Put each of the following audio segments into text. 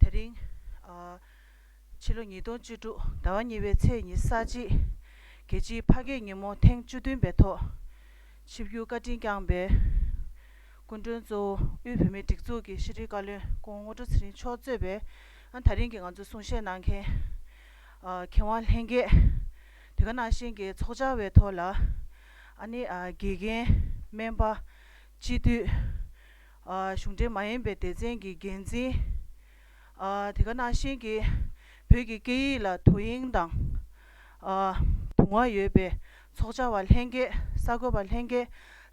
དེ་རིང། ཕྱི་ལོ་ཉིས་སྟོང་བཅུ་དྲུག་ཟླ་བ་གཉིས་པའི་ཚེས་ཉི་གསར་བརྗེའི་རྒྱལ་སྤྱིའི་ཕ་སྐད་ཉིན་མོ་ཐེངས་བཅུ་བདུན་པའི་ཐོག་ཆིབས་བསྒྱུར་བཀའ་དྲིན་བསྐྱངས་པའི་སྐུ་མགྲོན་གཙོ་བོ་དབུས་བོད་མིའི་སྒྲིག་འཛུགས་ཀྱི་ཤེས་རིག་བཀའ་བློན་ཀོང་ངོ་ཀྲོ་ཚེ་རིང་མཆོག་གཙོས་པའི་ད་རིང་གི་ང་ཚོའི་གསུང་བཤད་གནང་མཁན་གྱེན་དབང་ལྷན་རྒྱས་དེ་ག་ནང་བཞིན་གྱི་ཚོགས་བཅར་བའི་ཐོག་ལ་ཨ་ནི་དགེ་རྒན། སྨན་པ། སྤྱི་འཐུས། གཞུང་འབྲེལ་མ་ཡིན་པའི་སྡེ་ཚན་གྱི་འགན་འཛིན། དེ་ག་ནང་བཞིན་གྱི་བོད་ཀྱི་སྐད་ཡིག་ལ་དོ་དབྱིངས་དང། དུང་བ་ཡོད་པའི་ཚོགས་བཅར་བ་ལྷན་རྒྱས་གསར་འགོད་པ་ལྷན་རྒྱས་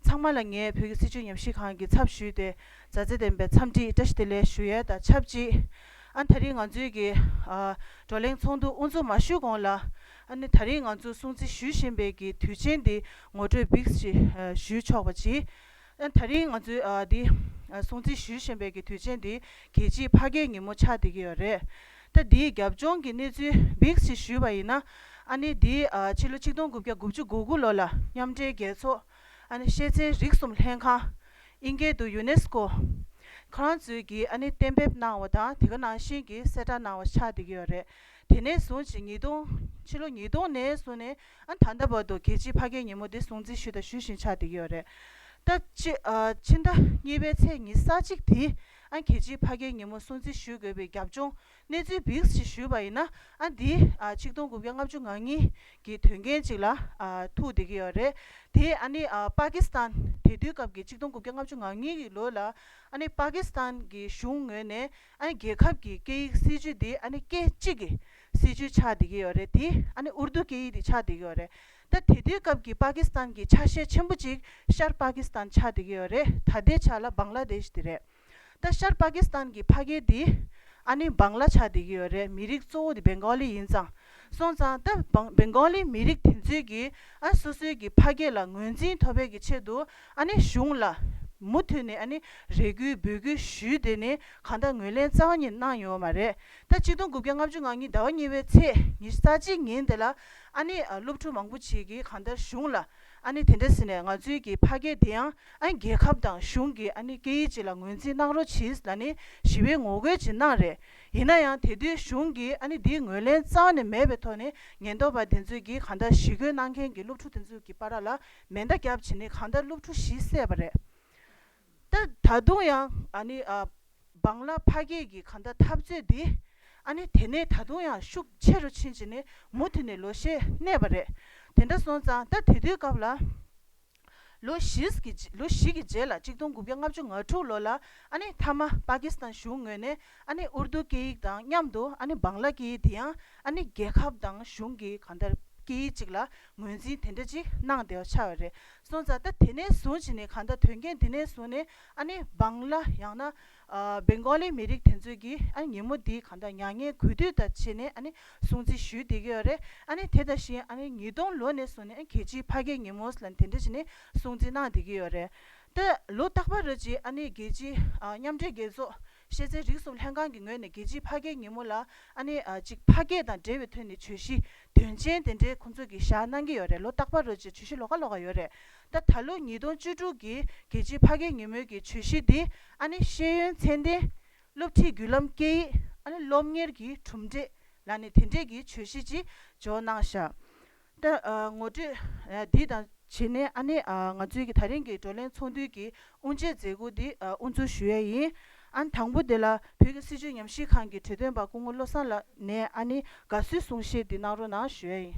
ཚང་མ་ལ་ངས་བོད་ཀྱི་སྲིད་བྱུས་ཉམས་ཞིབ་ཁང་གི་ཚབ་ཞུས་ཏེ་མཛའ་བརྩེ་ལྡན་པའི་འཚམས་འདྲི་བཀྲ་ཤིས་བདེ་ལེགས་ཞུ་ཡས་དང་ཆབས་ཅིག་ཨ་ད་རིང་ང་ཚོའི་གི་བགྲོ་གླེང་ཚོགས་འདུ་དབུ་འཛུགས་མ་ཞུས་གོང་ལ། ཨ་ནི་ད་རིང་ང་ཚོ་སྲུང་བརྩི་ཞུས་བཞིན་པའི་གི་དུས་ཆེན་འདི་ངོ་སྤྲོད་བིགས་ཞིག་ཞུས་ཆོག་པ་གྱིས། ཨ་ད་རིང་ང་ཚོའི་འདི་སྲུང་བརྩི་ཞུས་བཞིན་པའི་གི་དུས་ཆེན་འདི་གལ་ཆེའི་ཕ་སྐད་ཉིན་མོ་ཆགས་བསྡད་ཀྱི་ཡོད་རེད། ད་འདིའི་རྒྱབ་ལྗོངས་གི་གནས་ཚུལ་བིགས་ཞིག་ཞུས་པ་ཡིན་ན། ཨ་ནི་འདི་ཕྱི་ལོ་ཆིག་སྟོང་དགུ་བརྒྱ་དགུ་བཅུ་དགུ་དགུ་ལོ་ལ་མཉམ་འབྲེལ་རྒྱལ་ཚོགས། ཤེས་ཚན་རིག་གསུམ་ལྷན་ཁང། ཨིན་སྐད་དུ Unesco། ཁང་བརྩོད་ཀྱིས་གཏན་འབེབས་གནང་བ་དང་དེ་ག་ནང་བཞིན་གྱི་གསལ་བསྒྲགས་གནང་བ་ཆགས་བསྡད་ཀྱི་ཡོད་རེད། དེ་ནས་བཟུང་ཕྱི་ཉིས་སྟོང། ཕྱི་ལོ་ཉིས་སྟོང་ནས་བཟུང་ནས་ད་ལྟ་བར་དུ་གལ་ཆེའི་ཕ་སྐད་ཉིན་མོ་དེ་སྲུང་བརྩི་ཞུས་དང་ཞུ་བཞིན་ཆགས་བསྡད་ཀྱི་ཡོད་རེད། ད་ཕྱི་ཟླ་གཉིས་པའི་ཚེས་ཉི་ས་གཅིག་དེ་གལ་ཆེའི་ཕ་སྐད་ཉིན་མོ་སྲུང་བརྩི་ཞུ་དགོས་པའི་རྒྱབ་ལྗོངས་གནས་ཚུལ་བིས་ཞེས་ཞུས་པ་ཡིན་ན་ཨ་འདི་ཆིག་སྟོང་དགུ་བརྒྱ་ལྔ་བཅུ་ང་གཉིས་ཀྱི་དོན་རྐྱེན་ཅིག་ལ་ཐུག་བསྡད་ཀྱི་ཡོད་རེད་དེ་ཨ་ནི་པཱ་ཀི་སི་ཐན་དེ་དུས་སྐབས་ཀྱི་ཆིག་སྟོང་དགུ་བརྒྱ་ལྔ་བཅུ་ང་གཉིས་ཀྱི་ལོ་ལ་ཨ་ནི་པཱ་ཀི་སི་ཐན་གྱི་གཞུང་ངོས་ནས་ཨ་ནི་རྒྱལ་ཁབ་ཀྱི་སྐད་ཡིག་སྲིད་ཇུས་འདི་ཨ་ནི་སྐད་གཅིག་གི་སྲིད་ཇུས་ཆགས་བསྡད་ཀྱི་ཡོད་རེད་དེ་ཨ་ནི་ཨུར་དུ་སྐད་ཡིག་དེ་ཆགས་བསྡད་ཀྱི་ཡོད་རེད་ད་དེ་དུས་སྐབས་ཀྱི་པཱ་ཀི་སི་ཐན་གྱི་ཆ་ཤས་ཆེན་པོ་ཅིག་ཤར་པཱ་ཀི་སི་ཐན་ཆགས་བསྡད་ཀྱི་ཡོད་རེད་ད་ལྟའི་ཆ་ལ་བཱང་ལ་དེཤ་དེ་རེད། ད་ཤར་པ་ཀི་སི་ཐན་གྱི་ཕ་རྒན་དེ་ཨ་ནི་འབངས་ལ་ཆགས་བསྡད་ཀྱི་ཡོད་རེད་མི་རིགས་གཙོ་བོ་དེ་སྦེན་གོ་ལི་ཡིན་ཙང་སོང་ཙང་ད་སྦེན་གོ་ལི་མི་རིགས་དེ་ཚོའི་གི་ཨ་སོ་སོའི་གི་ཕ་སྐད་ལ་ངོས་འཛིན་མཐོ་བས་ཀྱི་ཆེད་དུ་ཨ་ནི་གཞུང་ལ་མུ་མཐུད་ནས་ཨ་ནི་རེ་སྐུལ་འབོད་སྐུལ་ཞུས་དེ་ནི་གང་ད་ངོས་ལེན་རྩ་བ་ཉིད་གནང་ཡོད་མ་རེད་ད་གཅིག་སྟོང་དགུ་བརྒྱ་ལྔ་བཅུ་ང་གཉིས་ཟླ་བ་གཉིས་པའི་ཚེས་ཉི་ས་གཅིག་ཉིན་དེ་ལ་ཨ་ནི་སློབ་ཕྲུག་མང་པོ་ཆེ་གི་གང་ད་གཞུང་ལ་ཨ་ནི་དེ་འདྲ་ཟེར་ནས་ང་ཚོའི་གི་ཕ་སྐད་དེ་ཡང་ཨ་ནི་རྒྱལ་ཁབ་དང་གཞུང་གི་ཨ་ནི་སྐད་ཡིག་ཅིག་ལ་ངོས་འཛིན་གནང་རོགས་གྱིས་ད་ནི་ཞི་བའི་ངོ་རྒོལ་ཇི་གནང་རེད་ཡིན་ན་ཡང་དེ་དུས་གཞུང་གི་ཨ་ནི་འདིའི་ངོས་ལེན་རྩ་བ་ནས་མེད་པའི་ཐོག་ནས་ཉེན་རྟོག་པ་དེ་ཚོས་གི་གང་ལྟར་ཞི་རྒོལ་གནང་མཁན་གི་སློབ་ཕྲུག་དེ་ཚོའི་གི་པ་ར་ལ་མེ་མདའ་བརྒྱབ་བྱས་ནི་གང་ལྟར་སློབ་ཕྲུག་བཞི་བསད་པ་རེད། ད་དུང་ཡང་ཨ་ནི་སྦང་ལ་ཕ་སྐད་ཀྱི་ག་འདའ་འཐབ་རྩོད་འདི་ཨ་ནི་དེ་ནས་ད་དུང་ཡང་ཤུགས་ཆེ་རུ་ཕྱིན་ཅི་ནི་མུ་མཐུད་ནས་ལོ་ཤས་གནས་པ་རེད་དེ་འདྲ་སོང་ཙང་ད་དེ་དུས་སྐབས་ལ་ལོ་བཞི་བཞི་གི་རྗེས་ལ་གཅིག་སྟོང་དགུ་བརྒྱ་ལྔ་བཅུ་ང་དྲུག་ལོ་ལ་ཨ་ནི་མཐའ་མ་པ་ཀི་སི་ཐན་གཞུང་ངོས་ནས་ཨ་ནི་ཨུར་རྡུ་སྐད་ཡིག་དང་མཉམ་དུ་ཨ་ནི་སྦང་ལ་སྐད་ཡིག་དེ་ཡང་ཨ་ནི་རྒྱལ་ཁབ་དང་གཞུང་གི་ག་འདའ་སྐད་ཡིག་ཅིག་ལ་ངོས་འཛིན་དེ་འདྲ་ཅིག་གནང་བདེ་བ་ཆགས་ཡོད་རེད་སོང་ཙང་ད་དེ་ནས་བཟུང་བྱས་ནས་གང་ལྟར་དོན་རྐྱེན་དེ་ནས་བཟུང་ནས་ཨ་ནི་བང་ལ་ཡང་ན Bengali མི་རིགས་དེ་ཚོས་ཀྱི་ཨ་ནི་ཉིན་མོ་འདི་གང་ལྟར་མྱ་ངན་གུས་འདུད་དང་བྱས་ནས་ཨ་ནི་སྲུང་བརྩི་ཞུས་བསྡད་ཀྱི་ཡོད་རེད་ཨ་ནི་དེ་དང་བཞིན་ཨ་ནི་ཉིས་སྟོང་ལོ་ནས་བཟུང་ནས་གལ་ཆེའི་ཕ་སྐད་ཉིན་མོ་ལ་དེ་འདྲ་བྱས་ནས་སྲུང་བརྩི་གནང་བསྡད་ཀྱི་ཡོད་རེད་ད་ལོ་རྟག་པར་རེད་ཅེས་ཨ་ནི་རྒྱལ་སྤྱིའི་མཉམ་འབྲེལ་རྒྱལ་ཚོགས་ཤེས་ཚེ་རིག་གསུམ་ལྷན་ཁང་གི་ངོས་ནས་རྒྱལ་སྤྱིའི་ཕ་སྐད་ཉིན་མོ་ལ་ཨ་ནེ་གཅིག་ཕ་སྐད་དང་འབྲེལ་བའི་ཐོན་ནས་བྱོས་གཞི་དོན་ཆེན་དེ་འདྲའི་ཁོང་ཚོས་གི་བཞག་གནང་གི་ཡོད་རེད་ལོ་རྟག་པ་རོལ་རྗེས་བྱོས་གཞི་ལོ་ག་ལོ་ག་ཡོད་རེད་ད་ད་ལོ་ཉིས་སྟོང་བཅུ་དྲུག་གི་རྒྱལ་སྤྱིའི་ཕ་སྐད་ཉིན་མོའི་གི་བྱོས་གཞི་འདི་ཨ་ནེ་ཤེས་ཡོན་ཚན་ལྡན་སློབ་ཁྲིད་བརྒྱུད་ལམ་སྐད་ཡིག་ཨ་ནེ་སློབ་གཉེར་གྱི་གྲུབ་འབྲས་ལ་ནི་དེ་འདྲའི་གི་བྱོས་གཞི་ཅིག་འཇོག་གནང་བཞག་ལྟ། ངོ་སྤྲོད་འདི་དང་བྱེད་ནས་ཨ་ནེ་ང་ཚོའི་གི་ད་རིང་གི་བགྲོ་གླེང་ཚོགས་འདུའི་གི་དབུ་འབྱེད་མཛད་སྒོ་འདི་དབུ་འཛུགས་ཞུ་ཡས་ཡིན། ཨན་དང་པོ་དེ་ལ་བོད་ཀྱི་སྲིད་བྱུས་ཉམས་ཞིབ་ཁང་གི་གྲོས་དོན་པ་སྐུ་ངོ་བློ་བཟང་ལགས་ནས་ཨ་ནེ་དགའ་བསུའི་གསུང་བཤད་འདི་གནང་རོགས་གནང་ཞུ་ཡས་ཡིན།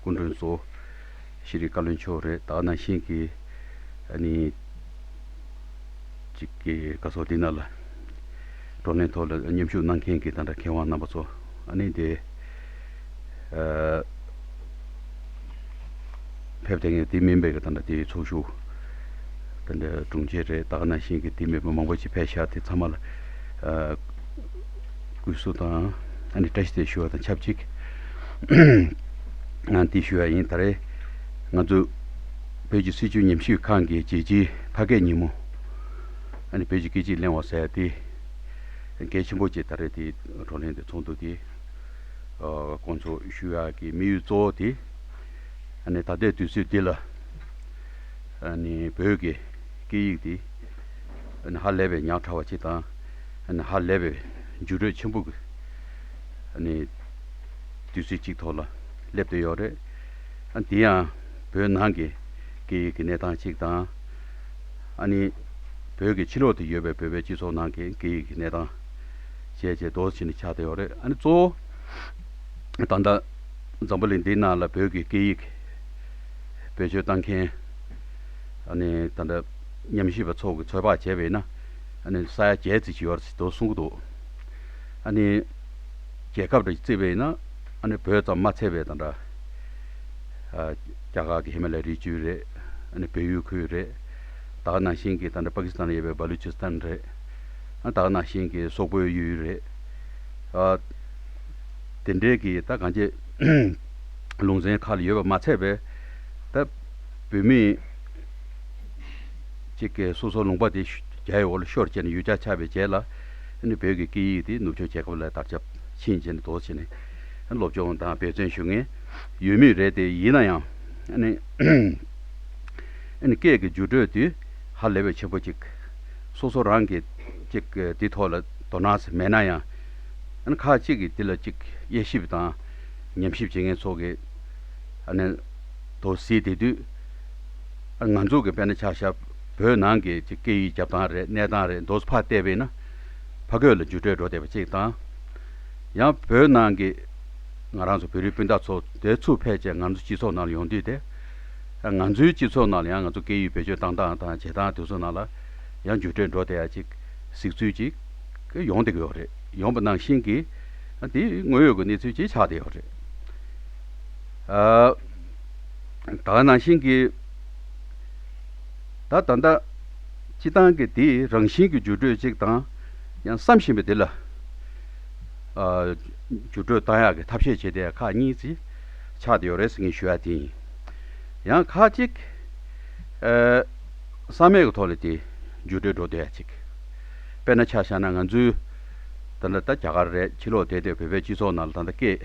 སྐུ་མགྲོན་གཙོ་བོ་ཤེས་རིག་བཀའ་བློན་མཆོག་རེད་ད་ནང་བཞིན་གྱི་ནི་ཅིག་གི་སྐབས་སོགས་འདི་རྣམས་ལ་བགྲོ་གླེང་ཐོག་ལ་མཉམ་ཞུགས་གནང་མཁན་གྱི་ད་དྲ་མཁས་དབང་རྣམ་པ་ཚོ་ནི་དེ་ཕེབས་དེ་ངས་དེ་མིན་པའི་ད་དྲ་དེའི་ཚོགས་ཞུགས་ད་དྲ་དྲུང་ཆེ་རེད་ད་ནང་བཞིན་གྱི་དེ་མིན་པ་མང་པོ་ཅིག་ཕེབས་ཤག་དེ་ཚང་མ་ལ། སྐུ་གཟུགས་དང། ཨ་ནི་བཀྲ་ཤིས་དེ་ཞུ་བ་དང་ཆབས་ཅིག། ང་འདི་ཞུ་བ་ཡིན་ད་རེད། ང་ཚོ། བོད་ཀྱི་སྲིད་བྱུས་ཉམས་ཞིབ་ཁང་གི་རྒྱལ་སྤྱིའི་ཕ་སྐད་ཉིན་མོ། ཨ་ནི་བོད་ཀྱི་སྐད་ཅིག་གླེང་བ་ཟེར་དེ། གལ་ཆེན་པོ་བཅས་ད་རེས་དེའི་བགྲོ་གླེང་དེ་ཚོགས་འདུག་དེ། ཁོང་ཚོ་ཞུ་བ་ཡག་གི་དམིགས་ཡུལ་གཙོ་བོ་དེ། ཨ་ནི་ད་ལྟའི་དུས་ཚོད་འདི་ལ། ཨ་ནི་བོད་ཀྱི་སྐད་ཡིག་དེ། ཨ་ནི་ཧ་ལས་པའི་ཉག་ཕྲ་བ་ཅིག་དང། ཧ་ལས་པའི་འཇུག་འཕྲོད་ཆེན་པོ་གི་ནི་དུས་ཚོད་གཅིག་ཐོག་ལ་སླེབས་བསྡད་ཡོད་རེད། དེ་ཡང་བོད་ནང་གི་སྐད་ཡིག་གི་གནས་སྟངས་གཅིག་དང། ཨ་ནི་བོད་ཀྱི་ཕྱི་ལོགས་དུ་ཡོད་པའི་བོད་པའི་སྤྱི་ཚོགས་ནང་གི་སྐད་ཡིག་གི་གནས་སྟངས་བཅས་བཅས་དོར་ཕྱིན་ནས་ཆགས་བསྡད་ཡོད་རེད། ཨ་ནི་གཙོ་བོ་ད་ལྟ་འཛམ་བུ་གླིང་འདི་ནང་ལ་བོད་ཀྱི་སྐད་ཡིག་བེད་སྤྱོད་བཏང་མཁན་ཨ་ནི་ད་ལྟ་ཉམས་ཞིབ་པ་ཚོགས་ཀྱི་ཚོད་དཔག་བྱས་པས་ན། ཨ་ནི་ས་ཡ་བརྒྱད་བརྩིས་ཀྱི་ཡོད་རེད་དོ་གསུང་གི་འདུག་ཨ་ནི། རྒྱལ་ཁབ་རེ་བརྩིས་པ་ཡིན་ན་ཨ་ནི་བོད་ཙམ་མ་ཚད་པའི་དང་འདྲ། རྒྱ་གར་གྱི་ཧི་མ་ལའི་རི་བཅུ་རེད་ཨ་ནི་བལ་ཡུལ་ཁུལ་རེད། ད་ནང་བཞིན་གྱི་དང་འདྲ་པ་ཀི་སི་ཐན་ལ་ཡོད་པའི་བྷ་ལུ་ཅི་སི་ཐན་རེད། ད་ནང་བཞིན་གྱི་སོག་པོའི་ཡུལ་རེད། དེ་འདྲའི་གི་ད་གང་ཅི་ལུང་ཚན་ཁག་ལ་ཡོད་པ་མ་ཚད་པས་ད་བོད་མི། གཅིག་གིས་སོ་སོར་ལུང་པ་དེ་རྒྱའི་འོག་ལ་ཤོར་བྱས་ནས་ཡུལ་ཅག་ཆགས་པའི་རྗེས་ལ། བོད་ཀྱི་སྐད་ཡིག་དེ་ནུབ་ཕྱོགས་རྒྱལ་ཁབ་ལ་དར་ཆ་ཕྱིན་བྱས་ནས་དོགས་བྱས་ནས་སློབ་སྦྱོང་དང་འབད་བརྩོན་ཞུ་མཁན་ཡོད་མུས་རེད་དེ་ཡིན་ན་ཡང། སྐད་ཀྱི་འགྱུར་འགྲོས་དེ་ཧ་ལས་པའི་ཆེན་པོ་གཅིག་སོ་སོ་རང་གིས་གཅིག་དེ་ཐོག་ལ་དོ་སྣང་མེད་ན་ཡང། ཁག་གཅིག་གིས་དེ་ལ་གཅིག་དབྱེ་ཞིབ་དང་ཉམས་ཞིབ་བྱེད་མཁན་ཚོ་གིས་དོགས་ཟིན་དེ་དུས། ང་ཚོ་གི་དཔལ་ན་ཆགས་ཞབས་བོད་ནང་གི་སྐད་ཡིག་རྒྱབ་སྟངས་རེད་གནས་སྟངས་རེད་མདོ་ཕར་བལྟས་པས་ན་ཕ་རྒོད་ལ་འཇུ་འབྲས་འགྲོ་བསྡད་པ་གཅིག་དང། ཡང་བོད་ནང་གི་ང་རང་ཚོ་བོད་རིགས་སྤུན་ཟླ་ཚོ་བསྡད་ཚུར་ཕལ་ཆེར་ང་ཚོ་སྤྱི་ཚོགས་ནང་ལ་ཡོང་དུས་དེ། ང་ཚོའི་སྤྱི་ཚོགས་ནང་ལ་ཡང་ང་ཚོ་སྐད་ཡིག་བེད་སྤྱོད་གཏང་སྟངས་དང་བྱེད་སྟངས་དེ་ཚོ་ནང་ལ་ཡང་འཇུ་འབྲས་འགྲོ་བསྡད་ཡ་ཅིག་གཟིགས་ཚུལ་ཅིག་ཡོང་བསྡད་ཀྱི་ཡོད་རེད་ཡོང་པ་ནང་བཞིན་གྱི་དེ་དངོས་ཡོད་ཀྱི་གནས་ཚུལ་ཅིག་ཆགས་བསྡད་ཡོད་རེད། ད་ནང་བཞིན་གྱི། ད་ད་ལྟ། སྤྱི་བཏང་གི་དེའི་རང་བཞིན་གྱི་བརྗོད་སྒྲོས་གཅིག་དང། ཡང་བསམ་བཞིན་པའི་དེ་ལ། བརྗོད་སྒྲོས་བཏང་ཡག་གི་ཐབས་ཤེས་བྱེད་དེ་ཁག་གཉིས་ཀྱིས་ཆགས་དེ་ཡོད་རེད་ཟེར་གིན་ཞུ་ཡག་དེ་ཡིན། ཡང་ཁག་གཅིག། བསམ་མེད་གི་ཐོག་ནས་དེ་བརྗོད་སྒྲོས་འགྲོ་དེ་ཡག་གཅིག། དཔེར་ན་ཆ་ཤ་ན་ང་ཚོའི། ད་ལྟ་རྒྱ་གར་རེད་ཕྱི་ལོག་དེ་ལྟའི་བོད་པའི་སྤྱི་ཚོགས་ནང་ལ་ད་ལྟ་སྐད།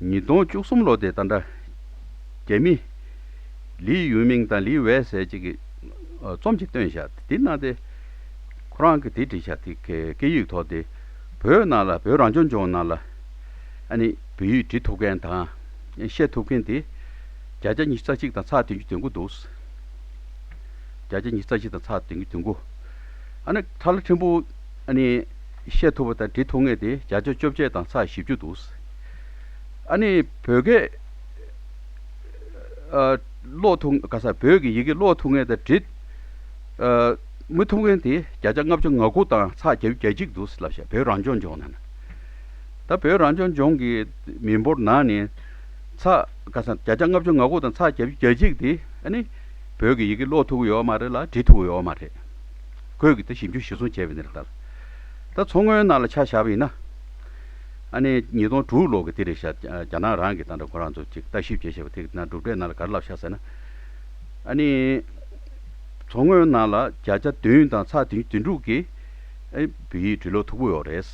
ཉིས་སྟོང་བཅུ་གསུམ་ལོ་དེ་ད་འདྲ། རྒྱ་མི། ལིའི་ཡུན་མིང་དང་ལིའི་ཝའེ་ཟེར་ཅིག་གིས། རྩོམ་ཅིག་བཏོན་བཞག་དེ་གནང་སྟེ། ཁོ་རང་གིས་དེ་བྲིས་བཞག་དེ་སྐད་ཡིག་ཐོག་དེ། བོད་ནང་ལ་བོད་རང་སྐྱོང་ལྗོངས་ནང་ལ། ཨ་ནི། བོད་ཡིག་འབྲི་ཐུབ་མཁན་དང། བཤད་ཐུབ་མཁན་དེ། བརྒྱ་ཆ་ཉི་རྩ་གཅིག་དང་ཚགས་བདུན་གྱི་དོན་དགུ་འདུག། བརྒྱ་ཆ་ཉི་རྩ་གཅིག་དང་ཚགས་བདུན་གྱི་དོན་དགུ། ཨ་ནི། ཐ་ལ་ཕྲན་བུ། ཨ་ནི། བཤད་ཐུབ་པ་དང་འབྲི་ཐུབ་ངེས་ཏེ་བརྒྱ་ཆ་བཅོ་བརྒྱད་དང་ཚ་བཞི་བཅུ་འདུག། ཨ་ནི་བོད་སྐད་ཀློག་ཐུབ་ག་ས་བོད་ཀྱི་ཡི་གེ་ཀློག་ཐུབ་ངེས་དང་འབྲི་མི་ཐུབ་ངེས་ཏེ་བརྒྱ་ཆ་ལྔ་བཅུ་ང་དགུ་དང་ཚ་བརྒྱད་བརྒྱད་གཅིག་འདུག་ལབ་བཤད་བོད་རང་སྐྱོང་ལྗོངས་ནང་ད་བོད་རང་སྐྱོང་ལྗོངས་ཀྱི་མི་འབོར་ནང་ནས་ཚ་ག་ས་བརྒྱ་ཆ་ལྔ་བཅུ་ང་དགུ་དང་ཚ་བརྒྱད་བརྒྱད་གཅིག་དེ་ཨ་ནི་བོད་ཀྱི་ཡི་གེ་ཀློག་ཐུབ་ཀྱི་ཡོད་མ་རེད་ལ་འབྲི་ཐུབ་ཀྱི་ཡོད་མ་རེད། ཁོས་ཀྱི་ད་ཞིབ་འཇུག་ཞིབ་ཚོང་བྱས་པའི་ནི་རེད་ད། ད་མཚོ་སྔོན་ནང་ལ་ཆ་བཞག་པ་ཡིན་ན། ཨ་ནེ་ཉིས་སྟོང་དྲུག་ལོ་གི་དེ་རེད་ཤག་རྒྱ་ནག་རང་གི་ཏང་དང་ཁོ་རང་ཚོ་ཅིག་ལྟ་ཞིབ་བྱེད་ཤེས་པ་དེ་གི་ན་གྲུབ་འབྲས་ནང་ལ་ག་རེ་ལབ་ཤག་ཟེར་ན། ཨ་ནེ། མཚོ་སྔོན་ནང་ལ་བརྒྱ་ཆ་བདུན་དང་ཚགས་དུས་དུས་དྲུག་གི་བོད་ཡིག་འབྲི་ཀློག་འཐུག་པོ་ཡོག་རེད།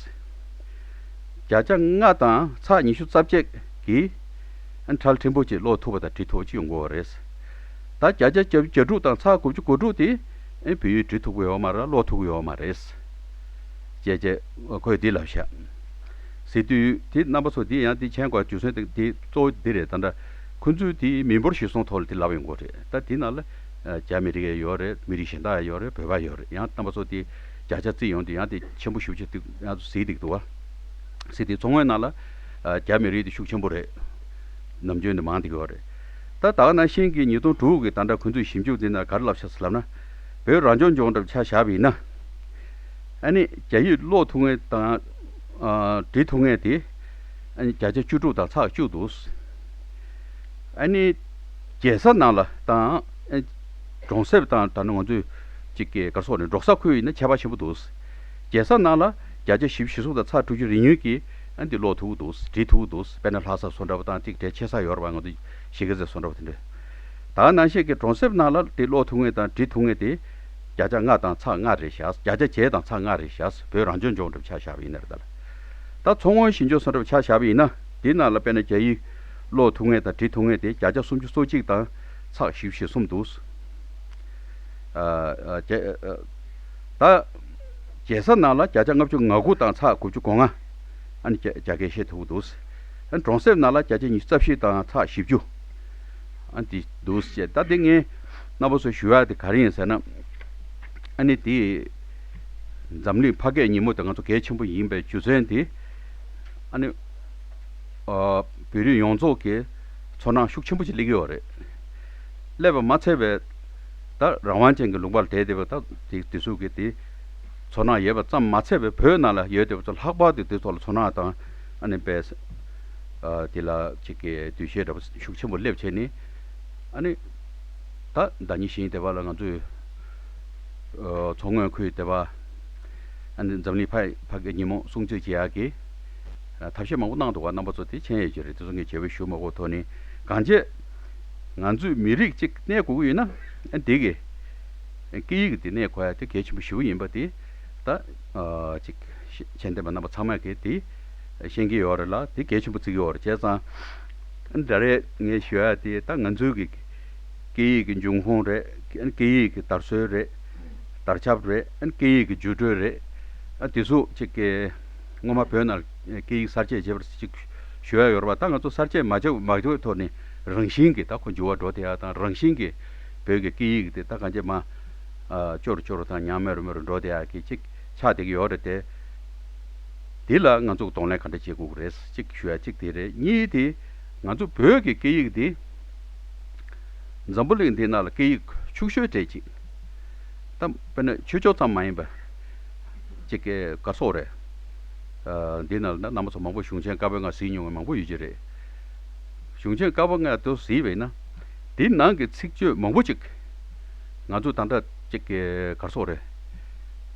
བརྒྱ་ཆ་ལྔ་དང་ཚགས་ཉི་ཤུ་རྩ་བརྒྱད་གི་ཁྲལ་ཕྲན་བུ་ཅིག་ཀློག་ཐུབ་པ་དང་བྲི་ཐུབ་པ་ཅིག་ཡོང་དགོས་བ་རེད། ད་བརྒྱ་ཆ་གྱ་དྲུག་དང་ཚགས་དགུ་བཅུ་གོ་དྲུག་དེ། ཨེ་བུ་གྲི་ཐུག་པོ་ཡོད་མ་རེད་གློག་ཐུག་པོ་ཡོད་མ་རེད། ཀྱེ་ཀྱེ། ཁོས་འདི་ལབ་ཤག། ཟེར་དུས་དེ་རྣམ་པ་ཚོ་འདི་ཡང་འདི་མཆན་འགོ་རྒྱུ་ཚོན་འདི་གཙོ་བོ་འདི་རེད་ད་འདྲ། ཁོ་ཚོས་དེ་མི་འབོར་ཞིག་སོང་ཐོག་ལ་འདི་ལབ་ཡོང་གོ་རེད་ད་འདི་ནང་ལ། རྒྱ་མི་རིགས་ཡ་ཡོད་རེད་མི་རིགས་གཞན་དག་ཡ་ཡོད་རེད་བོད་པ་ཡོད་རེད་ཡང་རྣམ་པ་ཚོ་འདི་བརྒྱ་ཆ་བརྩིས་ཡོང་དུས་ཡང་འདི་ཆེན་པོ་ཤུགས་ཆེ་འདུག་ཡང་གཟིགས་འདུག་འདུག་གཟིགས་འདུག་མཚོ་སྔོན་ནང་ལ། རྒྱ་མི་རིགས་འདི་ཤུགས་ཆེན་པོ་རེད། ནམ་རྒྱུན་འདི་མང་འདུག་ཡོད་རེད། ད་དག་ན་ཤིང་གི་ཉིས་སྟོང་དྲུག་གི་དང་སྒྲ་ཁུ་འཛུགས་ཞིབ་འཇུག་འདི་ན་ག་རེ་བསླབ་བྱ་སུ་ལབ་ན། བོད་རང་སྐྱོང་ལྗོངས་གྲབས་ཆ་བཞག་པ་ཡིན་ན། ཨ་ནི་རྒྱ་ཡིག་ཀློག་ཐུབ་ངེས་དང། འབྲི་ཐུབ་ངེས་ཏེ། ཨ་ནི་བརྒྱ་ཆ་བཅུ་དྲུག་དང་ཚགས་བཅུག་འདུག། ཨ་ནི་རྒྱལ་ས་ནང་ལ་དང། གྲོང་གསེབ་དང་ད་ནི་ང་ཚོས་ཅིག་གི་གར་སོགས་ནས་འབྲོག་ས་ཁུལ་ཡིན་ན་ཁྱད་པར་ཆེན་པོ་འདུག། རྒྱལ་ས་ནང་ལ་བརྒྱ་ཆ་བཞི་བཞི་གསུམ་དང་ཚགས་དྲུག་ཅུ་རེ་ཉུལ་གྱི། ཨ་འདི་ལོག་ཐུག་གི་འདུག་འབྲི་ཐུག་གི་འདུག་དཔེར་ན་ལྷ་ས་བཟོ་འདྲ་པོ་དང་ཐིག་འདྲའི་ཆེ་ས་ཡོར་བ་ང་ཚོ་ཞིག་གེ་ཟེར་བཟོ་འདྲ་པོ་དེ་འདྲ། ད་ནང་བཤད་ཀྱི་གྲོང་གསེབ་ནང་ལ་འདི་ལོག་ཐུག་ངེས་དང་འབྲི་ཐུག་ངེས་དེ། བརྒྱ་ཆ་ལྔ་དང་ཚ་ལྔ་རེ་བཞག་བརྒྱ་ཆ་བརྒྱད་དང་ཚ་ལྔ་རེ་བཞག་བོད་རང་སྐྱོང་ལྗོངས་འདྲ་པོ་ཆགས་བཞག་པ་ཡིན་ན་རེད་ད་ལ། ད་མཚོ་སྔོན་ཞིང་ལྗོངས་སོགས་འདྲ་པོ་ཆགས་བཞག་པ་ཡིན་ན་འདི་ནང་ལ་དཔེར་ན་རྒྱ་ཡིག། ལོག་ཐུག་ངེས་དང་འབྲི་ཐུག་ངེས་དེ་བརྒྱ་ཆ་སུམ་ཅུ་སོ་གཅིག་དང་ཚགས་བཞི་བཞི་གསུམ་འདུག། ད། རྒྱལ་ས་ནང་ལ་བརྒྱ་ཆ་ལྔ་བཅུ་ང་དགུ་དང་ཚ་དགུ་བཅུ་གོ་ལྔ། ཨ་ནི་བརྒྱ་བརྒྱ་སྐད་བཤད་ཐུབ་པོ་འདུག། གྲོང་གསེབ་ནང་ལ་བརྒྱ་ཆ་ཉི་ཤུ་རྩ་བཞི་དང་ཚ་བཞི་བཅུ། ཨ་ནི་འདུག་ཅེས་ད་དེ་ངས་རྣ་བ་སོ་ཞུ་ཡག་དེ་ག་རེ་ཡིན་ཟེར་ན། ཨ་ནི་དེ། འཛམ་གླིང་ཕ་སྐད་ཉིན་མོ་དེ་ང་ཚོ་གལ་ཆེན་པོ་ཡིན་པའི་རྒྱུ་མཚན་དེ། ཨ་ནི། བོད་རིགས་ཡོངས་རྫོགས་ཀྱིས་ཚོར་སྣང་ཤུགས་ཆེན་པོ་ཅིག་སླེབས་ཀྱི་ཡོད་རེད། སླེབས་པ་མ་ཚད་པའི། ད་རང་དབང་ཅན་གྱི་ལུང་པར་དད་དེ་བ་དག་གིས་དེ་གཟུགས་ཀྱི་དེ། ཚོར་སྣང་ཡོད་པ་ཙམ་མ་ཚད་པའི་བོད་ནང་ལ་ཡོད་དེ་བ་ཚོ་ལྷག་པར་དུ་དེ་ཚོ་ལ་ཚོར་སྣང་དང། ཨ་ནི་དཔལ། དེ་ལ་ཅིག་གི་འདུ་ཤེས་འདྲ་པོ་ཤུགས་ཆེན་པོ་སླེབས་བྱས་ནས། ཨ་ནི། ད་བདག་ཉིད་བཞིན་དེ་བ་ལ་ང་ཚོས། མཚོ་སྔོན་ཁུལ་དེ་བ། ཨ་ནི་འཛམ་གླིང་ཕག་ཕག་གི་ཉིན་མོ་སྲུང་གཙི་བྱེད་ཡག་གི། ཐབས་ཤེས་མང་པོ་གནང་འདུག་བ་རྣམ་པ་ཚོ་དེ་མཆན་ཡོད་ཀྱི་རེད་དེ་ཚོ་ངས་བྱས་བོད་གཞུང་མ་གོ་ཐོ་ནི་གང་བྱས། ང་ཚོས་མི་རིགས་གཅིག་གནས་དགོས་ཀྱི་ཡོད་ན་འདི་གི་སྐད་ཡིག་དེ་གནས་དགོས་ཡ་དེ་གལ་ཆེན་པོ་ཞེ་བོ་ཡིན་པ་དེ་ད་ཅིག་མཆན་འདེབས་པ་རྣམས་པ་ཚང་མས་གིས་དེ་ཤེས་ཀྱི་ཡོད་རེད་ལ་དེ་གལ་ཆེན་པོ་བརྩི་གི་ཡོད་རེད་བྱས་ཙང་འདྲ་རེད་ངས་ཞུ་ཡ་དེ་ད་ང་ཚོའི་གི་སྐད་ཡིག་གི་འབྱུང་ཁུངས་རེད་སྐད་ཡིག་གི་དར་སྲོལ་རེད་དར་ཆབ་རེད་སྐད་ཡིག་གི་རྒྱུ་འགྲོས་རེད་དེ་ཚོ་ཅིག་སྔོན་མ་བོད་ན། སྐད་ཡིག་གསར་བརྗེ་བྱེད་པར་ཅིག་ཞུ་ཡ་ཡོར་བ་ད་ང་ཚོ་གསར་བརྗེ་མ་བྱེད་མ་བྱེད་ཐོག་ནས་རང་བཞིན་གྱི་ད་ཁོ་འགྱུར་བ་འགྲོ་དེ་ཡ་དང་རང་བཞིན་གྱི་བོད་ཀྱི་སྐད་ཡིག་དེ་ད་གང་ཅེ་མ་ཅོ་རུ་ཅོ་རུ་དང་ཉང་མེ་རུ་མེ་རུ་འགྲོ་དེ་ཡ་གི་ཅིག་ཆགས་བསྡད་ཀྱི་ཡོ་རེད་དེ། དེ་ལ་ང་ཚོ་གདོང་ལེན་ག་འདྲ་བྱེད་དགོས་ཀྱི་རེད་ཅིག་ཞུ་ཡ་གཅིག་དེ་རེད་གཉིས་དེ་ང་ཚོ་བོད་ཀྱི་སྐད་ཡིག་དེ་འཛམ་བུ་གླིང་འདི་ན་ལ་སྐད་ཡིག་ཕྱུག་ཤོས་གྲས་ཅིག་ད་དཔེར་ན་ཆོས་ཕྱོགས་ཙམ་མ་ཡིན་པར། ཅེས་སྐད་དགའ་སོགས་རེད། འདི་ན་ལ་རྣམ་པ་ཚོ་མང་པོས་གཞུང་ཆེན་དཀར་པོའི་སྔགས་གཟིགས་མྱོང་བའི་མང་པོ་ཡོད་ཀྱི་རེད། གཞུང་ཆེན་དཀར་པོ་སྔགས་དེ་གཟིགས་བས་ན། དེའི་ནང་གི་ཚིག་བརྗོད་མང་པོ་ཅིག་ང་ཚོས་དང་འདྲ་ཅེས་སྐད་དགའ་སོགས་རེད།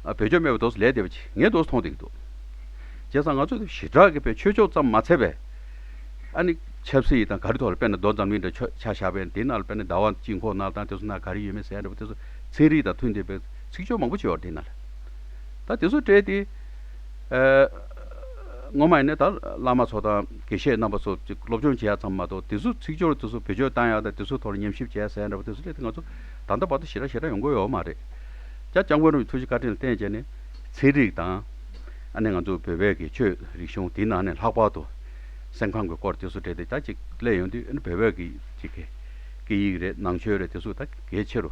བོད་ཆོས་སྨྲས་པའི་མདོ་ལས་འདས་པ་ཅིག་ངས་མདོ་མཐོང་བསྡད་ཀྱི་འདུག། བྱས་ཙང་ང་ཚོས་ཞི་དྲག་གི་བོད་ཆོས་ཕྱོགས་ཙམ་མ་འཚལ་བས། ཨ་ནི་ཆབ་སྲིད་དང་ག་རི་ཐོག་ལ་དཔེར་ན་མདོ་འཛམ་གླིང་འདྲ་ཆོས་ཆ་བཞག་པས་འདི་ན་ལ་དཔེར་ན་ཟླ་བ་དཔྱིད་འཁོར་ན་ལ་དང་དེ་སོགས་ན་ག་རི་ཡོད་མེད་གསལ་འདྲ་བ་དེ་ཚོ་ཚན་རིག་དང་མཐུན་བསྡད་པས། ཚིག་སྦྱོར་མང་པོ་བྱེད་བར་བསྟན། ད་དེ་ཚོ་བཀྲལ་ཏེ། སྔོན་མ་ཡིན་ན་ད་བླ་མ་ཚོ་དང་དགེ་བཤེས་རྣམ་པ་ཚོ་སློབ་སྦྱོང་བྱས་ཡག་ཚང་མ་མ་གཏོགས་དེ་ཚོ་ཚིག་སྦྱོར་དེ་ཚོ་བེད་སྤྱོད་བཏང་ཡག་དང་དེ་ཚོ་ཐོག་ལ་ཉམས་ཞིབ་བྱས་ཟེར་ཡག་འདྲ་པོ་དེ་ཚོ་བཀྲལ་ཏེ་ང་ཚོ་ད་ལྟ་བར་དུ་ཞེ་དྲག་ཞེ་དྲག་ཡོང་དགོས་ཡོད་མ་རེད། ཅག་སྐྱབས་མགོན་རམ་གྱི་ཐུགས་རྗེ་བཀའ་དྲིན་ལ་བརྟེན་བྱས་ནས་ཚན་རིག་དང། ཨ་ནེ་ང་ཚོ་བོད་པའི་གི་ཆོས་རིག་གཞུང་དེའི་ནང་ནས་ལྷག་པར་དུ་སེམས་ཁམས་གི་སྐོར་དེ་ཚོ་བཀྲལ་ཏེ་ད་ཅིག་ལས་ཡོང་དུས་ཨ་ནེ་བོད་པའི་གི་ཆི་ཁེ་སྐད་ཡིག་རེད་ནང་ཆོས་རེད་དེ་ཚོ་ད་གལ་ཆེ་རུ།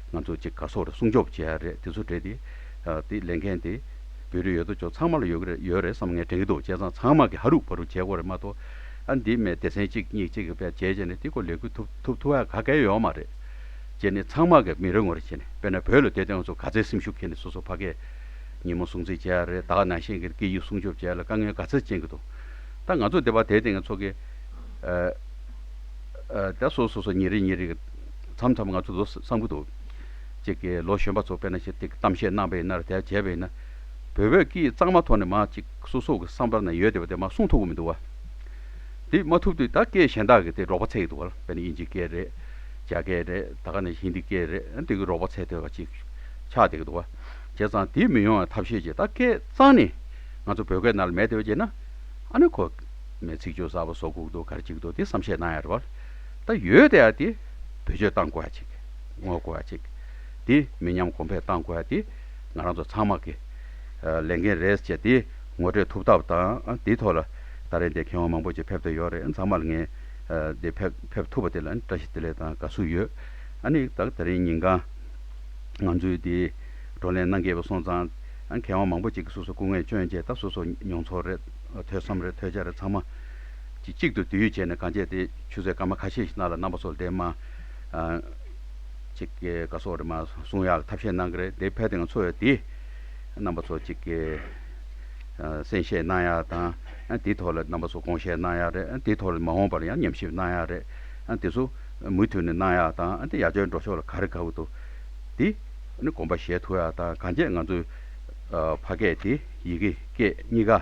ང་ཚོ་གཅིག་ག་སོག་རེད་སྲུང་སྐྱོབ་བྱེད་ཡ་རེད་དེ་ཚོ་བྲེད་དེ། ལས་འགན་དེ། བོད་རིགས་ཡོད་དོ་ཅོག་ཚང་མ་ལ་ཡོད་ཀྱི་ཡོད་རེད་བསམ་ངས་དྲན་གྱི་འདུག་བྱས་ཙང་ཚང་མ་གྱི་ཧ་རུག་ཕ་རུག་བྱས་དགོས་རེད་མ་གཏོགས། ཨ་འདི་མེད་སྡེ་ཚན་གཅིག་གཉིས་གཅིག་གི་བེད་སྤྱད་བྱས་ནས་འདི་སྐོར་ལས་འགུལ་ཐུབ་ཐུབ་ཐུབ་ཨ་ག་གལ་ཡོད་མ་རེད། བྱས་ནས་ཚང་མ་གྱི་མི་རེ་ངོ་རེ་བྱས་ནས་དཔེར་ན་བོད་ལ་སྡོད་དེ་ང་ཚོ་ག་ཚད་སེམས་ཤུགས་འཁྱེར་ནས་སོ་སོ་ཕ་སྐད། ཉིན་མོ་སྲུང་བརྩི་བྱེད་ཡ་རེད་དྭགས་ནང་ཞེན་གྱི་སྐད་ཡིག་སྲུང་སྐྱོབ་བྱེད་ཡ་ལ་དཀའ་ངལ་ག་ཚད་ཅན་གྱི་འདུག་ད་ང་ཚོ་སྡེ་བ་དེའི་སྟེང་ཚོགས་ཀྱི། ཨ། ད་སོ་སོ་སོ་ཉིན་རེ་ཉིན་རེ་གི། མཚམས་མཚམས་ང་ཚོ་ཚོ་བསམ་གྱི་འདུག་ཅིག་གི་ལོ་གཞོན་པ་ཚོ་དཔེར་ན་ཞེ་ཏིག་གཏམ་བཤད་གནང་བའི་ནར་དལ་བྱས་པའི་ན། བོད་བོད་ཀྱིས་གཙང་མ་ཐོག་ནས་མ་ཅིག་སོ་སོ་གི་བསམ་པར་ན་ཡོད་དེ་བ་དེ་མ་གསུང་ཐུབ་གི་མི་འདུག་བ། དེ་མ་ཐུབ་དུས་ད་སྐད་གཞན་དག་གི་དེ་རོགས་པ་ཚད་ཀྱི་འདུག་བ་དཔེར་ན་དབྱིན་ཇིའི་སྐད་རེད། རྒྱ་སྐད་རེད་ད་ག་ནས་ཧིན་དི་སྐད་རེད་འདི་གི་རོགས་པ་ཚད་ཐོས་བ་ཅིག་ཆགས་བསྡད་ཀྱི་འདུག་བ། བྱས་ཙང་དེ་མི་ཡོང་བའི་ཐབས་ཤེས་ཅིག་ད་སྐད་གཙང་ནས་ང་ཚོ་བོད་སྐད་ནར་ལ་མེད་དེ་བ་བྱས་ན་ཨ་ནི་ཁོ། མས་ཚིག་སྦྱོར་གསར་བ་བཟོ་དགོས་ཀྱི་འདུག་ག་རེ་བྱེད་ཀྱི་འདུག་དེ་བསམ་ཤེས་གནང་ཡ་རེད་བ། ད་ཡོད་དེ་ཡ་དེ་བེད་སྤྱོད་གཏང་དགོས་ཡ་ཅིག་ངོ་དགོས་ཡ་ཅིག་དེ་མི་ཉམས་གོང་འཕེལ་གཏང་དགོས་ཡ་དེ་ང་རང་ཚོ་ཚང་མ་གི་ལས་འགན་རེད་ཅེས་དེ་ངོ་སྤྲོད་ཐུབ་ཐབས་དང་དེའི་ཐོག་ལ་ད་རེས་འདི་མཁས་དབང་མང་པོ་ཅིག་ཕེབས་འདོད་ཡོད་རེད་ཚང་མ་ལ་ངས་འདི་ཕེབས་ཐུབ་པ་དེ་ལ་བཀྲ་ཤིས་བདེ་ལེགས་དང་དགའ་བསུ་ཡོད་ཨ་ནི་ད་ད་རེས་ཉིན་གང་ང་ཚོའི་དེ་བགྲོ་གླེང་གནང་གི་ཡོད་སོང་ཙང་མཁས་དབང་མང་པོ་ཅིག་གི་སོ་སོ་སྐུ་ངལ་བཅོན་རྗེས་ད་སོ་སོ་མྱོང་ཚོར་རེད་ཐོས་བསམ་རེད་ཐོས་བྱ་རེད་ཚང་མ། ཅིག་གཅིག་ཏུ་དུས་ཡུན་བྱས་ནས་གངས་བཅད་དེ་ཆུ་ཚོད་སྐར་མ་ཁ་ཤས་ཤིག་གནང་ལ་རྣམ་པ་སོགས་འདེམས། ཅིག་ག་སོགས་རེད་མ་གསུང་ཡག་ཐབས་ཤེས་གནང་གི་རེད་དེ་ཕལ་དེ་འང་འཚོ་བའི་དེ། རྣམ་པ་ཚོ་ཅིག་གསན་བཞེས་གནང་ཡག་དང་དེའི་ཐོག་ལ་རྣམ་པ་ཚོ་དགོངས་བཞེས་གནང་ཡག་རེད་དེའི་ཐོག་ལ་མ་འོངས་པར་ཡང་ཉམས་ཞིབ་གནང་ཡག་རེད་དེ་ཚོ་མུ་མཐུད་ནས་གནང་ཡག་དང་དེ་ཡག་ཆོལ་འགྲོ་ཕྱོགས་ལ་ག་རེ་ག་བུ་དོ། དེ་ནི་དགོངས་པ་བཞེས་ཐུབ་ཡག་དང་གངས་བཅད་ང་ཚོའི་ཕ་སྐད་དེ་ཡི་གེ་སྐད་གཉིས་ཀ།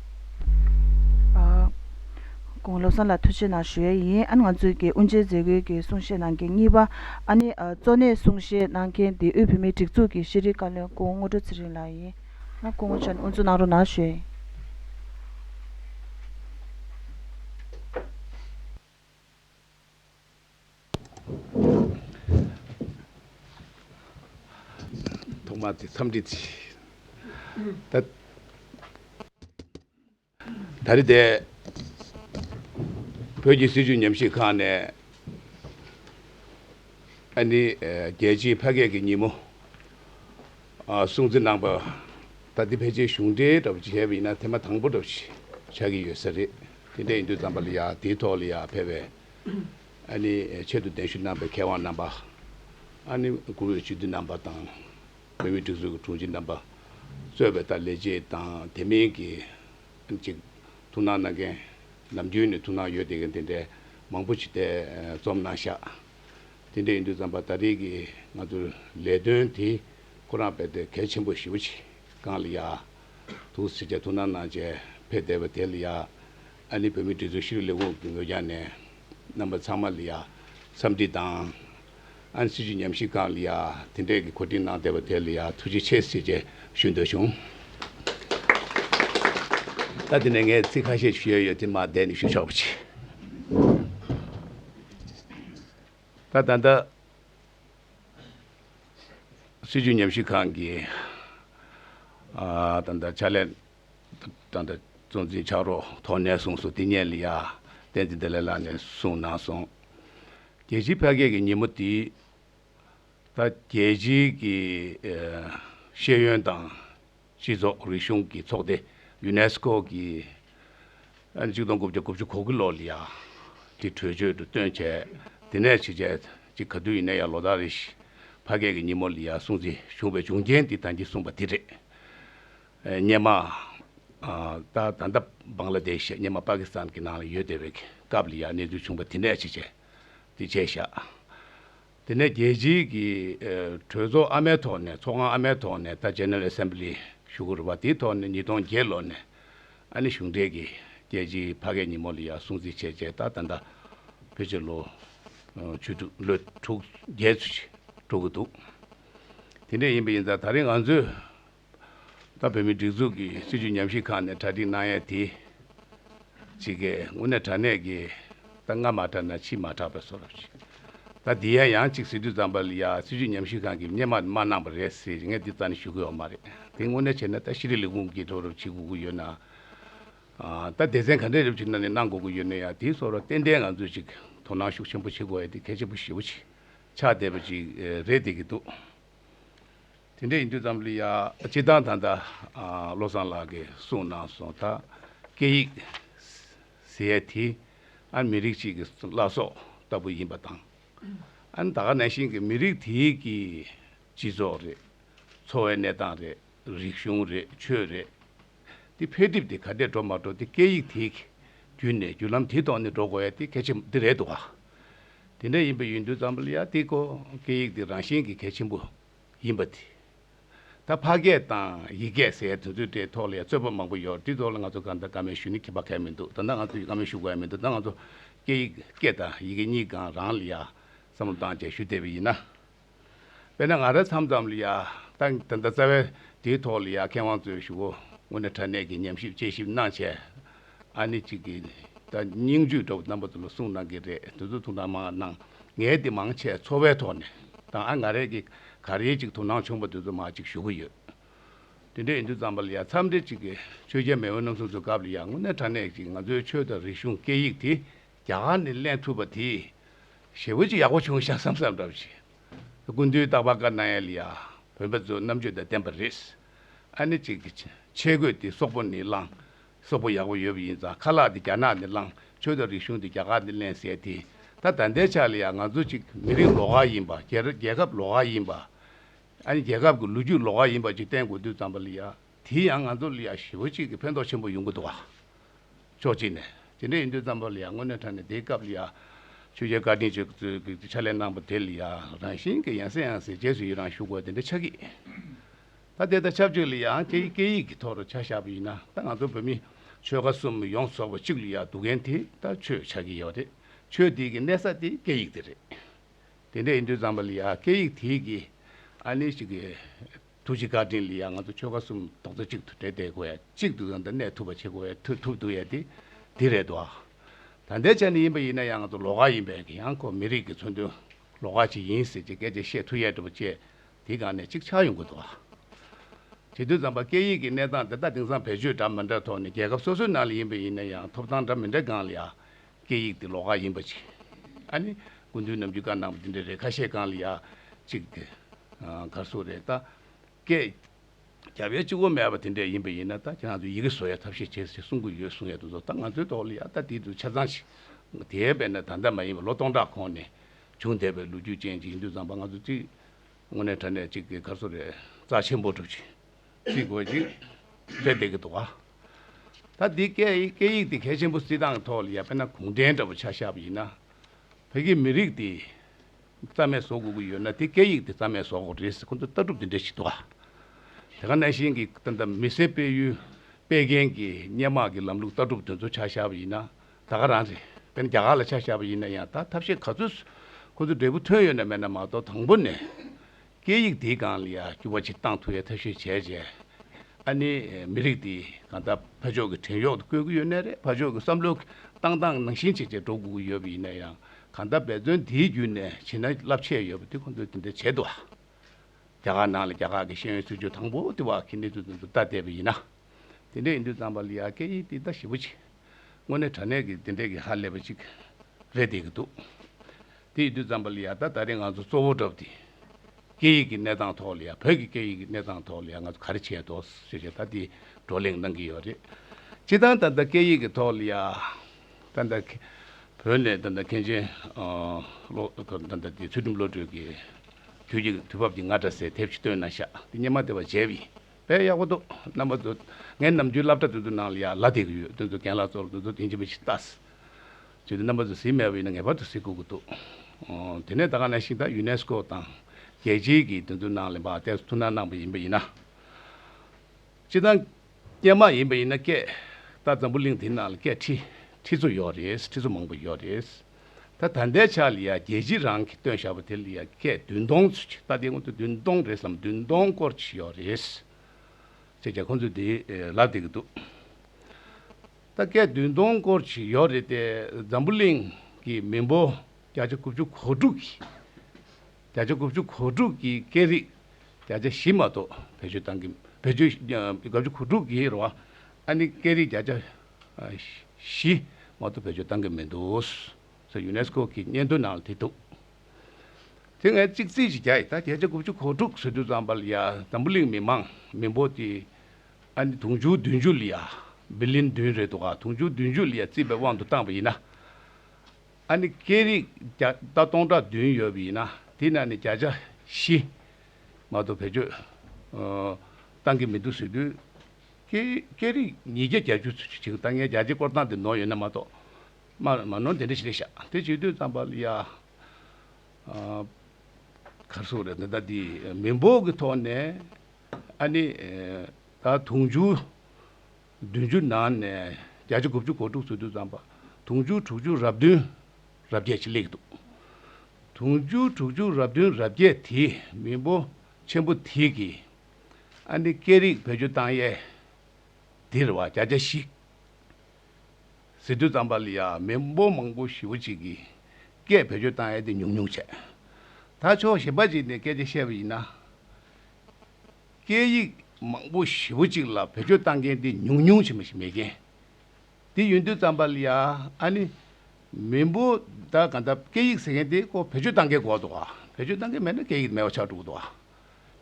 དགུང་ལོ་གསུམ་ལ་ཐུགས་ཆེ་གནང་ཞུ་ཡས་ཡིན་ཨ་ནི་ང་ཚོའི་དགེ་དབུ་འབྱེད་མཛད་སྒོའི་གི་གསུང་བཤད་གནང་མཁན་གཉིས་པ་ཨ་ནི་གཙོ་གནད་གསུང་བཤད་གནང་མཁན་དེ་དབུས་བོད་མིའི་སྒྲིག་འཛུགས་ཀྱི་ཤེས་རིག་བཀའ་བློན་སྐུ་ངོ་སྔོ་འགྲོ་ཚེ་རིང་ལགས་ཡིན་ང་སྐུ་ངོ་ཆ་ནས་དབུ་འཛུགས་གནང་རོགས་གནང་ཞུ་ཡས་ཡིན། ཐོག་མ་དེ་འཚམས་འདྲི་བྱས། ད་རེས་དེ་བོད་ཀྱི་སྲིད་བྱུས་ཉམས་ཞིབ་ཁང་ནས་ཨ་ནི་རྒྱལ་སྤྱིའི་ཕ་སྐད་ཀྱི་ཉིན་མོ་སྲུང་གཙི་གནང་པ། ད་ལྟའི་ཕལ་ཆེར་གཞུང་འབྲེལ་ལྟ་བུ་བྱས་པ་ཡིན་ན་དེ་མ་དང་པོ་ལྟ་བུ་ཞིག་ཆགས་ཀྱི་ཡོད་ས་རེད། དེ་འདྲ་ཡིན་དུས་ཙམ་པ་ལ་ཡང་དེའི་ཐོག་ལ་ཡང་ཕལ་བའི་ཨ་ནི་ཆེད་དུ་གདན་ཞུ་གནང་པའི་མཁས་དབང་རྣམ་པ། ཨ་ནི་གུང་བའི་སྤྱི་འཐུས་རྣམ་པ་དང། བོད་མིའི་སྒྲིག་འཛུགས་ཀྱི་དྲུང་ཆེ་རྣམ་པ། གཙོས་པའི་ལས་བྱེད་དང་དེ་མིན་གྱི་ཨ་ནི་ཅིག་ཐུགས་སྣང་གནང་མཁན། ནམ་རྒྱུན་ནས་ཐུགས་སྣང་ཡོད་བསྡད་མཁན་དེ་འདྲའི་མང་པོ་ཞིག་ཐེ་ཚོམ་གནང་ཤག། དེ་འདྲ་ཡིན་དུས་ཙམ་པ་ད་རེས་ཀྱི་ང་ཚོའི་ལས་དོན་དེ་ཁོ་རང་བས་ཐད་གལ་ཆེན་པོ་ཞེ་བོ་ཞིག་གང་ལ་ཡང། ཐུགས་སུ་ཆེ་བསྐྱེད་ཐུགས་སྣང་གནང་བཅས་ཕེབས་བསྡད་པ་དེ་ལ་ཡ། ཨ་ནི་བོད་མིའི་སྒྲིག་འཛུགས་ཤེས་རིག་ལས་ཁུངས་ཀྱི་ངོས་རྒྱང་ནས། རྣམ་པ་ཚང་མ་ལ་ཡ། འཚམས་འདྲི་དང། ཨ་ནི་སྲིད་བྱུས་ཉམས་ཞིབ་ཁང་ལ་ཡ། དེ་འབྲེལ་གྱི་གོ་སྒྲིག་གནང་བསྡད་པ་དེ་ལ་ཡ་ཐུགས་རྗེ་ཆེ་ཟེར་བཅས་ཞུ་འདོད་བྱུང། ད་དེ་ནས་ངས་ཚིག་ཁ་ཤས་ཞུ་ཡ་ཡོད་དེ་མ་བསྡད་ནས་ཞུ་ཆོག་པ་བྱས། ད་ད་ལྟ། སྲིད་ཇུས་ཉམས་ཞིབ་ཁང་གིས་ཏང་དང་ཕྱག་ལས་དང་གཙོ་འཛིན་ཕྱག་རོགས་ཐོག་ནས་བཟུང་སུ་ཏི་ཉན་ལི་ཡ་བསྟན་འཛིན་བདེ་ལེགས་ལགས་ནས་བཟུང་གནང་སོང། རྒྱལ་སྤྱིའི་ཕལ་སྐད་ཀྱི་ཉིན་མོ་འདི་ད་རྒྱལ་སྤྱིའི་ཀྱི་ཤེས་ཡོན་དང། སྤྱི་ཚོགས་རིག་གཞུང་གི་ཚོགས་སྡེ། Unesco། གིས་གཅིག་སྟོང་དགུ་བརྒྱ་དགུ་བཅུ་གོ་གི་ལོ་ལི་ཡ་དེ་གྲོས་ཆོད་དུ་བཏོན་བྱས། དེ་ནས་ཕྱི་རྒྱལ་གཅིག་ག་དུས་ཡིན་ན་ཡང་ལོ་ཟླ་རེ་བཞི་ཕ་སྐད་ཀྱི་ཉིན་མོ་ལི་ཡ་སྲུང་བརྩི་བྱུང་བའི་བྱུང་རྐྱེན་འདི་དང་གྱིས་གསུངས་པ་དེ་རེད། སྙེ་མ། ད་ད་ལྟ་བང་ལ་དེ་ཞེས་སྙེ་མ་པ་ཀི་སི་ཐན་གྱི་ནང་ལ་ཡོད་དེ་བའི་སྐབས་ལི་ཡ་གནས་ཚུལ་བྱུང་བ་དེ་ནས་ཕྱི་རྒྱལ་དེ་བྱས་ཤག་དེ་ནས་རྒྱལ་སྤྱིའི་གི་གྲོས་ཚོགས་ཨ་མའི་ཐོག་ནས་ཚོགས་ཁང་ཨ་མའི་ཐོག་ནས་ད General Assembly ཞུགས་དགོས་རུ་བ་དེའི་ཐོག་ནས་ཉིས་སྟོང་བརྒྱད་ལོ་ནས་ཨ་ནི་གཞུང་འབྲེལ་གི་རྒྱལ་སྤྱིའི་ཕ་སྐད་ཉིན་མོ་ལ་ཡང་སྲུང་བརྩི་བྱས་རྗེས་ད་ད་ད་བོད་ཕྱི་ལོ་བཅུ་དྲུག་ལོ་དྲུག་བརྒྱད་ཚུད་ཀྱི་འགྲོ་གི་འདུག་དེ་འདྲས་ཡིན་པ་ཡིན་ཙང་ད་རེས་ང་ཚོས་ད་བོད་མིའི་སྒྲིག་འཛུགས་ཀྱི་སྲིད་བྱུས་ཉམས་ཞིབ་ཁང་ནས་གྲ་སྒྲིག་གནང་ཡས་དེ། ཅི་ཀའི་ངོ་ནས་དྲ་གནས་ཀྱི། ད་སྔ་མ་དྲ་ན་ཕྱིས་མ་དྲག་པའི་སོ་རབ་ཅིག། ད་འདི་ཡ་ཡང་ཅིག་སི་ཏུ་ཙམ་པ་ལི་ཡ་སྲིད་བྱུས་ཉམས་ཞིབ་ཁང་གི་སྙན་མར་མ་གནང་པ་རེད་ཟེར་གྱི་ངས་འདི་ཙམ་ནས་ཞུ་གི་ཡོག་མ་རེད་དེ་དངོས་གནས་བྱས་ན་ད་ཤི་རི་ལི་ཀུང་གིས་སྒྲོག་རུབ་བྱེད་དགོས་ཀྱི་ཡོད་ན། ད་སྡེ་ཚན་ག་འདྲས་རུབ་བྱེད་ན་ནས་གནང་དགོས་ཀྱི་ཡོད་ན་ཡང་དེའི་སོ་ར་ཏན་ཏན་ང་ཚོས་ཅིག་དོ་སྣང་ཤུགས་ཆེན་པོ་བྱེད་དགོས་ཡས་དེ་གལ་ཆེན་པོ་ཞེ་བོ་ཅིག་ཆགས་བསྡད་པ་ཅིག་རེད་བསྡད་ཀྱི་འདུག། དེ་འདྲ་ཡིན་དུས་ཙམ་ལི་ཡ། སྤྱི་བཏང་ད་ལྟ་བློ་བཟང་ལགས་ཀྱིས་གསུངས་གནང་སོང་ད། སྐད་ཡིག། CAT། ཨ་མི་རིགས་གཅིག་གི་བླ་སྲོག་ལྟ་བུ་ཡིན་པ་དང། ཨན་ད་ག་ནས་ཤིང་གི་མི་རིགས་དེ་གི་སྤྱི་ཚོགས་རེད། འཚོ་བའི་གནས་སྟངས་རེད། རིག་གཞུང་རེད་ཆོས་རེད། དེ་འཕེལ་འགྲིབ་དེ་ག་འདྲས་འགྲོ་མ་འགྲོ་དེ་སྐད་ཡིག་དེ་གི་བརྒྱུད་ནས་བརྒྱུད་ལམ་དེ་ཐོག་ནས་འགྲོ་དགོས་ཡ་དེ་གལ་ཆེན་པོ་དེ་རེད་འདུག་ག། དེ་འདྲ་ཡིན་པ་ཡིན་དུས་ཙམ་ལི་ཡ་དེ་གོ་སྐད་ཡིག་དེ་རང་བཞིན་གི་གལ་ཆེན་པོ། ཡིན་པ་དེ། ད་ཕ་སྐད་དང་ཡིག་སྐད་ཟེར་དུས་ཚོད་དེའི་ཐོག་ལ་ཡང་རྩོད་པ་མང་པོ་ཡོད་དེའི་ཐོག་ལ་ང་ཚོ་གང་ལྟར་ཀ་མེད་ཞུ་ནི་ཁེ་ཕ་གལ་མི་འདུག་ད་ལྟ་ང་ཚོ་ཡིས་ཀ་མེད་ཞུ་དགོས་ཡ་མི་འདུག་ད་ང་ཚོ་སྐད་ཡིག་སྐད་དང་ཡི་གེ་གཉིས་གང་རང་ལ་ཡ། བསམ་བློ་བཏང་རྗེས་ཞུ་བསྡད་པ་ཡིན་ན། དཔེར་ན་ང་རང་འཚམས་འཚམས་ལ་ཡ། ད་ད་ལྟ་རྩ་བའི་དེའི་ཐོག་ལ་ཡ་མཁས་དབང་ཚོས་ཞུ་བོ་དངོས་གནས་ཕྲ་གནས་ཀྱི་ཉམས་ཞིབ་དཔྱད་ཞིབ་གནང་བྱས། ཨ་ནི་གཅིག་གིས་ནི་ད་སྙིང་རྗེའི་གྲོགས་རྣམ་པ་དུ་ལ་གསུངས་གནང་གི་རེད་དུས་ཚོད་ཐུང་ཐང་མང་གནང། ངས་དེ་མང་ཆེ་འཚོ་བའི་ཐོག་ནས་དང་ཨ་ང་རེ་གི་ག་རེའི་ཅིག་ཐུང་ཐང་ཆུང་པོ་དེ་ཚོ་མ་ཅིག་ཞུ་གི་ཡོད། དེ་འདྲ་ཡིན་དུས་ཙམ་པ་ལ་ཡང་འཚམས་འདྲི་གཅིག་གི་ཆོས་རྒྱལ་མེས་དབོན་ནམ་སོང་ཚུལ་སྐབས་ལ་ཡང་དངོས་གནས་དྲ་གནས་ཀྱི་ང་ཚོའི་ཆོས་དང་རིག་གཞུང་སྐད་ཡིག་དེ་རྒྱ་གར་ནས་གླེང་ཐུབ་པ་དེ་ཞེ་བོ་ཅིག་ཡག་པོ་བྱུང་ཤག་བསམ་བསམ་འདྲ་བོ་བྱས། དེ་ཀུན་དུས་རྟག་པར་བཀའ་གནང་ཡས་ལ་ཡང་བོན་པོ་ཚོའི་རྣམ་དཔྱོད་དང་ལྡན་པ་རེད། ཨ་ནི་གཅིག་གིས་ཆས་གོས་དེ་སོག་པོ་ནས་བླངས་སོག་པོ་ཡག་པོ་ཡོད་པ་ཡིན་ཙང་ཁ་ལག་དེ་རྒྱ་ནག་ནས་བླངས་ཆོས་དང་རིག་གཞུང་དེ་རྒྱ་གར་ནས་གླན་ཟེར་དེ། ད་ད་ལྟའི་ཆ་ལ་ཡང་ང་ཚོ་ཅིག་མི་རིགས་ལོག་ཁ་ཡིན་པ་རྒྱལ་རྒྱལ་ཁབ་ལོག་ཁ་ཡིན་པ། ཨ་ནི་རྒྱལ་ཁབ་ཀྱི་ལོ་རྒྱུས་ལོག་ཁ་ཡིན་པ་ཅིག་བསྟན་དགོས་དུས་ཙམ་པ་ལ་ཡང་དེ་ཡང་ང་ཚོ་ལ་ཡང་ཞི་བོ་གཅིག་གི་ཕན་ཐོག་ཆེན་པོ་ཡོང་གི་འདུག་བ། ཕྱོགས་གཅིག་ནས་དེ་འདྲ་ཡིན་དུས་ཙམ་པ་ལ་ཡང་དངོས་གནས་ཐ་ན་དེའི་སྐབས་ལ་ཡང་ཆོས་རྒྱལ་བཀའ་དྲིན་ཆེ་གཙོས་ཀྱི་ཕྱག་ལས་གནང་པ་དེ་ལ་ཡང་རང་བཞིན་གྱི་ཡང་སེ་ཡང་སེ་རྗེས་སུ་ཡི་རང་ཞུ་དགོས་དེ་འདྲ་ཆགས་ཀྱི། ད་དེ་དང་ཆབས་ཅིག་ལ་ཡང་ཁྱེད་ཀྱི་སྐད་ཡིག་གི་ཐོག་ཏུ་ཆ་བཞག་པ་ཡིན་ན་ད་ང་ཚོ་བོད་མི་ཆོལ་ཁ་གསུམ་ཡོངས་ཚོགས་པ་གཅིག་ལ་ཡང་སྡུག་མཁན་དེ་ད་ཆོས་ཆགས་ཀྱི་ཡོད་རེད། ཆོས་དེ་གི་གནས་ས་དེ་སྐད་ཡིག་དེ་རེད། དེ་འདྲ་ཡིན་དུས་ཙམ་པ་ལ་ཡང་སྐད་ཡིག་དེ་གི་ཨ་ནེ་ཞིག་གི་ཐུགས་རྗེ་བཀའ་དྲིན་ལ་ཡང་ང་ཚོ་ཆོལ་ཁ་གསུམ་རྡོག་རྩ་གཅིག་ཏུ་འདྲེས་བསྡད་དགོས་ཡ་གཅིག་ཏུ་ཡང་ད་གནས་ཐུབ་པ་བྱེད་དགོས་ཡ་ཐུབ་ཐུབ་འདུག་ཡ་དེ་དེ་རེད་དོ། ད་ལྟའི་ཆ་ནས་ཡིན་པ་ཡིན་ན་ཡང་ང་ཚོ་ལོག་ཁ་ཡིན་པས་ཡང་ཁོ་མི་རིགས་ཀྱི་མཚོན་དོན་ལོག་ཁ་ཅིག་ཡིན་ཟེར་གྱི་སྐད་ཆ་བཤད་ཐུབ་ཡ་འགྲུབ་བྱེད། དེའི་སྒང་ནས་གཅིག་ཆགས་ཡོང་དགོས་འདུག་དེ་དུས་རྩམ་པ་སྐད་ཡིག་གི་གནས་སྟངས་འདི་དག་དེང་སང་བེད་སྤྱོད་འདྲ་མི་འདྲ་ཐོག་ནས་རྒྱལ་ཁབ་སོ་སོའི་ནང་ལ་ཡིན་པ་ཡིན་ན་ཡང་ཐོབ་ཐང་འདྲ་མི་འདྲའི་སྒང་ལ་ཡང་སྐད་ཡིག་དེ་ལོགས་ཁ་ཡིན་པ་ཅིག་ཨ་ནི་དགུན་དུས་ནམ་རྒྱུན་སྒང་ནང་པ་དེ་འདྲའི་རེ་ཁ་ཤས་སྒང་ལ་ཡང་ཅིག་དེ་གར་སོ་རེད་ད་སྐད་རྒྱབ་ཡ་གཅིག་བོ་མེད་པ་དེ་འདྲས་ཡིན་པ་ཡིན་ན་ད་ཁྱེད་རང་ཚོས་ཡི་གེ་བཟོ་ཡ་ཐབས་ཤེས་བྱེད་ཅེས་གསུང་གི་ཡོད་གསུང་ཡ་འདུག་ཟོ་ད་ང་ཚོའི་ཐོག་ལ་ཡང་ད་དེའི་དུས་ཆ་ཚང་ཞིག་དེའི་བས་ན་ད་ལྟ་མ་ཡིན་པ་ལོ་སྟོང་ཕྲག་གོང་ནས་བྱུང་བསྡད་པའི་ལོ་རྒྱུས་ཅན་ཅིག་ཡིན་དུས་རྩམ་པ་ང་ཚོ་གཅིག། དངོས་གནས་དྲ་གནས་གཅིག་གི་སྐར་ཚོགས་རེ་རྩ་ཆེན་པོ་གྲུབ་ཅིང་བརྩི་དགོས་ཅིང་བརྩེ་བདེ་གི་དུ་བ། ད་འདི་སྐད་ཡིག་སྐད་ཡིག་འདི་གལ་ཆེན་པོ་བརྩི་སྟངས་ཐོག་ལ་ཡ་དཔེ་ན་གུང་ཁྲན་འདྲ་བོ་ཆགས་ཤག་པ་ཡིན་ན། བོད་ཀྱི་མི་རིགས་འདི་རྩ་མེད་བཟོ་དགོས་ཀྱི་ཡོད་ན་དེ་སྐད་ཡིག་འདི་རྩ་མེད་བཟོ་དགོས་རེད་ཟེར་ཁོ་ཚོ་ལྟ་གྲུབ་འདི་འདྲ་ཞིག་འདུག་ག་དེ་ག་ནས་ཤིང་གི་ད་མི་སེར་སྤེལ་ཡུལ་སྤེལ་མཁན་གྱི་སྙན་དམག་གི་ལམ་ལུགས་ལྟ་གྲུབ་དེ་ཚོ་ཆགས་ཤག་པ་ཡིན་ན། ད་ག་རང་རེད། དེ་ནི་རྒྱ་གར་ལ་ཆ་བཞག་པ་ཡིན་ན་ཡང་ད་ཐབས་ཤེས་ག་ཚོད་སུ་ཁོ་ཚོ་འབྲས་བུ་ཐོན་ཡོད་ན་མེད་ན་མ་གཏོགས་དང་པོ་ནས་སྐད་ཡིག་འདིའི་སྒང་ལ་ཡ་བསྐྱུར་བ་ཆེ་གཏང་ཐུབ་ཡ་ཐབས་ཤེས་བྱས་བྱས་ཨ་ནི་མི་རིགས་འདི་གང་ལྟར་ཕ་ཕྱོགས་ཀྱི་བྲན་གཡོག་ཏུ་བཀོལ་གྱི་ཡོད་ནས་རེད་ཕ་ཕྱོགས་ཀྱི་བསམ་བློའི་བཏང་སྟངས་ནང་བཞིན་བྱས་བྱས་འགྲོ་དགོས་ཀྱི་ཡོད་པ་ཡིན་ན་ཡང་གང་ལྟར་འབད་བརྩོན་འདིའི་བརྒྱུད་ནས་བྱེད་ན་རླབས་ཆེ་ཡོད་པ་འདི་ཁོ་ཚོས་དེ་འདྲ་བྱེད་དུ་ཨ། རྒྱ་གར་ནང་ལ་རྒྱ་གར་གྱི་ཤེས་ཡོན་སྲིད་བྱུས་དང་པོ་དེ་བ་གི་གནས་ཚུལ་དོན་དུ་བལྟ་བསྡད་པ་ཡིན་ན། དེ་འདྲས་ཡིན་དུས་རྩམ་པ་ལི་ཡ་སྐད་ཡིག་འདི་ད་ཞིབ་པོ་བྱས། དངོས་གནས་དྲ་གནས་ཀྱི་དེ་འདྲས་ཀྱི་ཧ་ལས་པ་ཅིག་རེད་བསྡད་ཀྱི་འདུག་དེ་ཡིན་དུས་རྩམ་པ་ལི་ཡ་ད་ད་རིང་ང་ཚོ་གཙོ་བོ་འགྲོ་བ་དེ། སྐད་ཡིག་གི་གནས་སྟངས་ཐོག་ལ་ཡང་བོད་ཀྱི་སྐད་ཡིག་གི་གནས་སྟངས་ཐོག་ལ་ཡང་ང་ཚོ་ག་རེ་བྱས་འདུག་ཞེས་བྱས་ད་དེའི་བགྲོ་གླེང་གནང་གི་ཡོད་རེད། སྤྱིར་བཏང་ད་ལྟ་སྐད་ཡིག་གི་ཐོག་ལ་ཡང་ད་ལྟ་བོད་ནས་ད་ལྟ་མཁན་ཆེན་བློ་དཀར་ད་ལྟ་དེ་ཚུལ་ཁྲིམས་བློ་གྲོས་ཀྱི་དུས་ཀྱི་དུས་བབ་ཀྱི་ང་སྒྲ་གསལ་དེབ་ཅིག་བཏོན་ན་ཤག་དེ་སྙན་མ་དེ་བ་མཇལ་བས་དཔེ་ཡག་པོ་འདུག་རྣམ་པ་ཚོ། ངའི་ནམ་རྒྱུན་བསླབ་གྲྭ་དེ་ཚོའི་ནང་ལ་ཡག་ལ་དེ་གི་ཡོད་དོན་ཚོ་གན་ལགས་ཚོར་དེ་ཚོ་དེང་ཕྱིན་པ་ཞིག་བལྟ། བྱོས་དེ་རྣམ་པ་ཚོ་གཟིགས་མེད་པ་ཡིན་ན་ངེས་པར་དུ་གཟིགས་དགོས་ཀྱི་འདུག། དེ་ནས་ད་ག་ནས་ཤིག་ད Unesco དང། རྒྱལ་སྤྱིའི་གི་དེ་ཚོའི་ནང་ལ་འབའ་ཏེ་ཐུགས་སྣང་གནང་པ་ཡིན་པ་ཡིན་ན། སྤྱི་བཏང། སྐྱེས་མ་ཡིན་པ་ཡིན་ན་སྐད། ད་འཛམ་བུ་གླིང་དེའི་ནང་ལ་སྐད་ཁྲི། ཁྲི་ཚོ་ཡོད་རེད་ཁྲི་ཚོ་མང་པོ་ཡོད་རེད། ད་ད་ལྟའི་ཆ་ལ་ཡང་རྒྱལ་སྤྱི་རང་གིས་བཏོན་བཞག་པ་དེ་ལ་ཡང་སྐད་བདུན་སྟོང་ཚུད་ཀྱི་ལྟ་དེའི་སྔོན་དུ་བདུན་སྟོང་རེད་བསམ་བདུན་སྟོང་སྐོར་ཅིག་ཡོད་རེད། ཅེས་ཀྱང་ཁོང་ཚོས་དེ་ལབ་བསྡད་ཀྱི་འདུག་ད་སྐད་བདུན་སྟོང་སྐོར་ཅིག་ཡོད་རེད་དེ་འཛམ་བུ་གླིང་གི་མི་འབོར་བརྒྱ་ཆ་དགུ་བཅུ་གོ་དྲུག་གིས་བརྒྱ་ཆ་དགུ་བཅུ་གོ་དྲུག་གིས་སྐད་རིགས་བརྒྱ་ཆ་བཞི་མ་གཏོགས་བེད་སྤྱོད་བཏང་གི་བེད་སྤྱོད་བརྒྱ་བཅུ་གོ་དྲུག་གིས་རེད་བ་ཨ་ནི་སྐད་རིགས་བརྒྱ་ཆ་བཞི། མ་གཏོགས་བེད་སྤྱོད་བཏང་གི་མི་འདུག། ཟེར་ཡུ་ནེ་སི་ཀོ་གི་སྙན་ཐོའི་ནང་ལ་བྲིས་འདུག། དེ་སྔའི་གཅིག་རྩིས་ཀྱི་རྒྱ་ཡི་ད་བརྒྱད་བརྒྱ་དགུ་བཅུ་གོ་དྲུག་ཟེར་དུས་ཙམ་པ་ལ་ཡ་འཛམ་བུ་གླིང་མི་མང་མི་འབོར་དེ་ཨ་ནི་དུང་ཕྱུར་བདུན་ཅུ་ལ་ཡ། Billion། བདུན་རེད་འདུག་ག་དུང་ཕྱུར་བདུན་ཅུ་ལ་ཡ་རྩིས་པའི་དབང་དུ་བཏང་བ་ཡིན་ན། ཨ་ནི་སྐད་རིགས་བརྒྱ་ད་སྟོང་ཕྲག་བདུན་ཡོད་པ་ཡིན་ན་དེ་ནང་ནས་བརྒྱ་ཆ་བཞི། མ་གཏོགས་བེད་སྤྱོད་བཏང་གི་མི་འདུག་ཟེར་དུས། སྐད་རིགས་ཉིས་བརྒྱ་གྱ་བཅུ་ཚུན་ཆད་ལྟ་ངན་རྒྱ་ཆེ་སྐོར་སྟངས་དེ་ནོར་ཡོད་ན་མ་གཏོགས། མ་ནོར་འདི་འདྲ་ཞིག་རེད་ཤག་དེ་བྱེད་དུས་ཙམ་པ་ལ་ཡ། ཁར་སོང་རེད་ད་ལྟ་འདི་མི་འབོར་གྱི་ཐོག་ནས་ཨ་ནི། ད་དུང་ཕྱུར་བདུན་ཅུ་ནང་ནས་བརྒྱ་ཆ་དགུ་བཅུ་གོ་དྲུག་ཚུད་དུས་ཙམ་པ་དུང་ཕྱུར་དྲུག་ཅུ་རབ་བདུན་རབ་བརྒྱད་ཅིག་ལེགས་འདུག་དུང་ཕྱུར་དྲུག་ཅུ་རབ་བདུན་རབ་བརྒྱད་དེའི་མི་འབོར་ཆེན་པོ་དེ་གིས། ཨ་ནི་སྐད་རིགས་བེད་སྤྱོད་བཏང་ཡས། འདིར་བ་བརྒྱ་བརྒྱ་ཞིག། ཟེར་དུས་ཙམ་པ་ལི་ཡ་མི་འབོར་མང་པོ་ཞི་བོ་གཅིག་གིས་སྐད་བེད་སྤྱོད་བཏང་ཡས་དེ་ཉུང་ཉུང་བྱས། ད་ཆོག་གཞན་པ་ཅིག་ནས་སྐད་ཆ་བཤད་པ་ཡིན་ན། སྐད་ཡིག་མང་པོ་ཞི་བོ་གཅིག་ལ་བེད་སྤྱོད་བཏང་མཁན་དེ་ཉུང་ཉུང་བྱེད་མ་ཞིག་མེད་མཁན། དེ་ཡོད་དུས་ཙམ་པ་ལི་ཡ་ཨ་ནི་མི་འབོར་ད་ག་འདྲ་སྐད་ཡིག་ཟེར་མཁན་དེ་ཀོ་བེད་སྤྱོད་བཏང་མཁན་གོ་འདུག་བ་བེད་སྤྱོད་བཏང་མཁན་མེད་ན་སྐད་ཡིག་དེ་མེད་པ་ཆགས་འགྲོ་གི་འདུག་བ།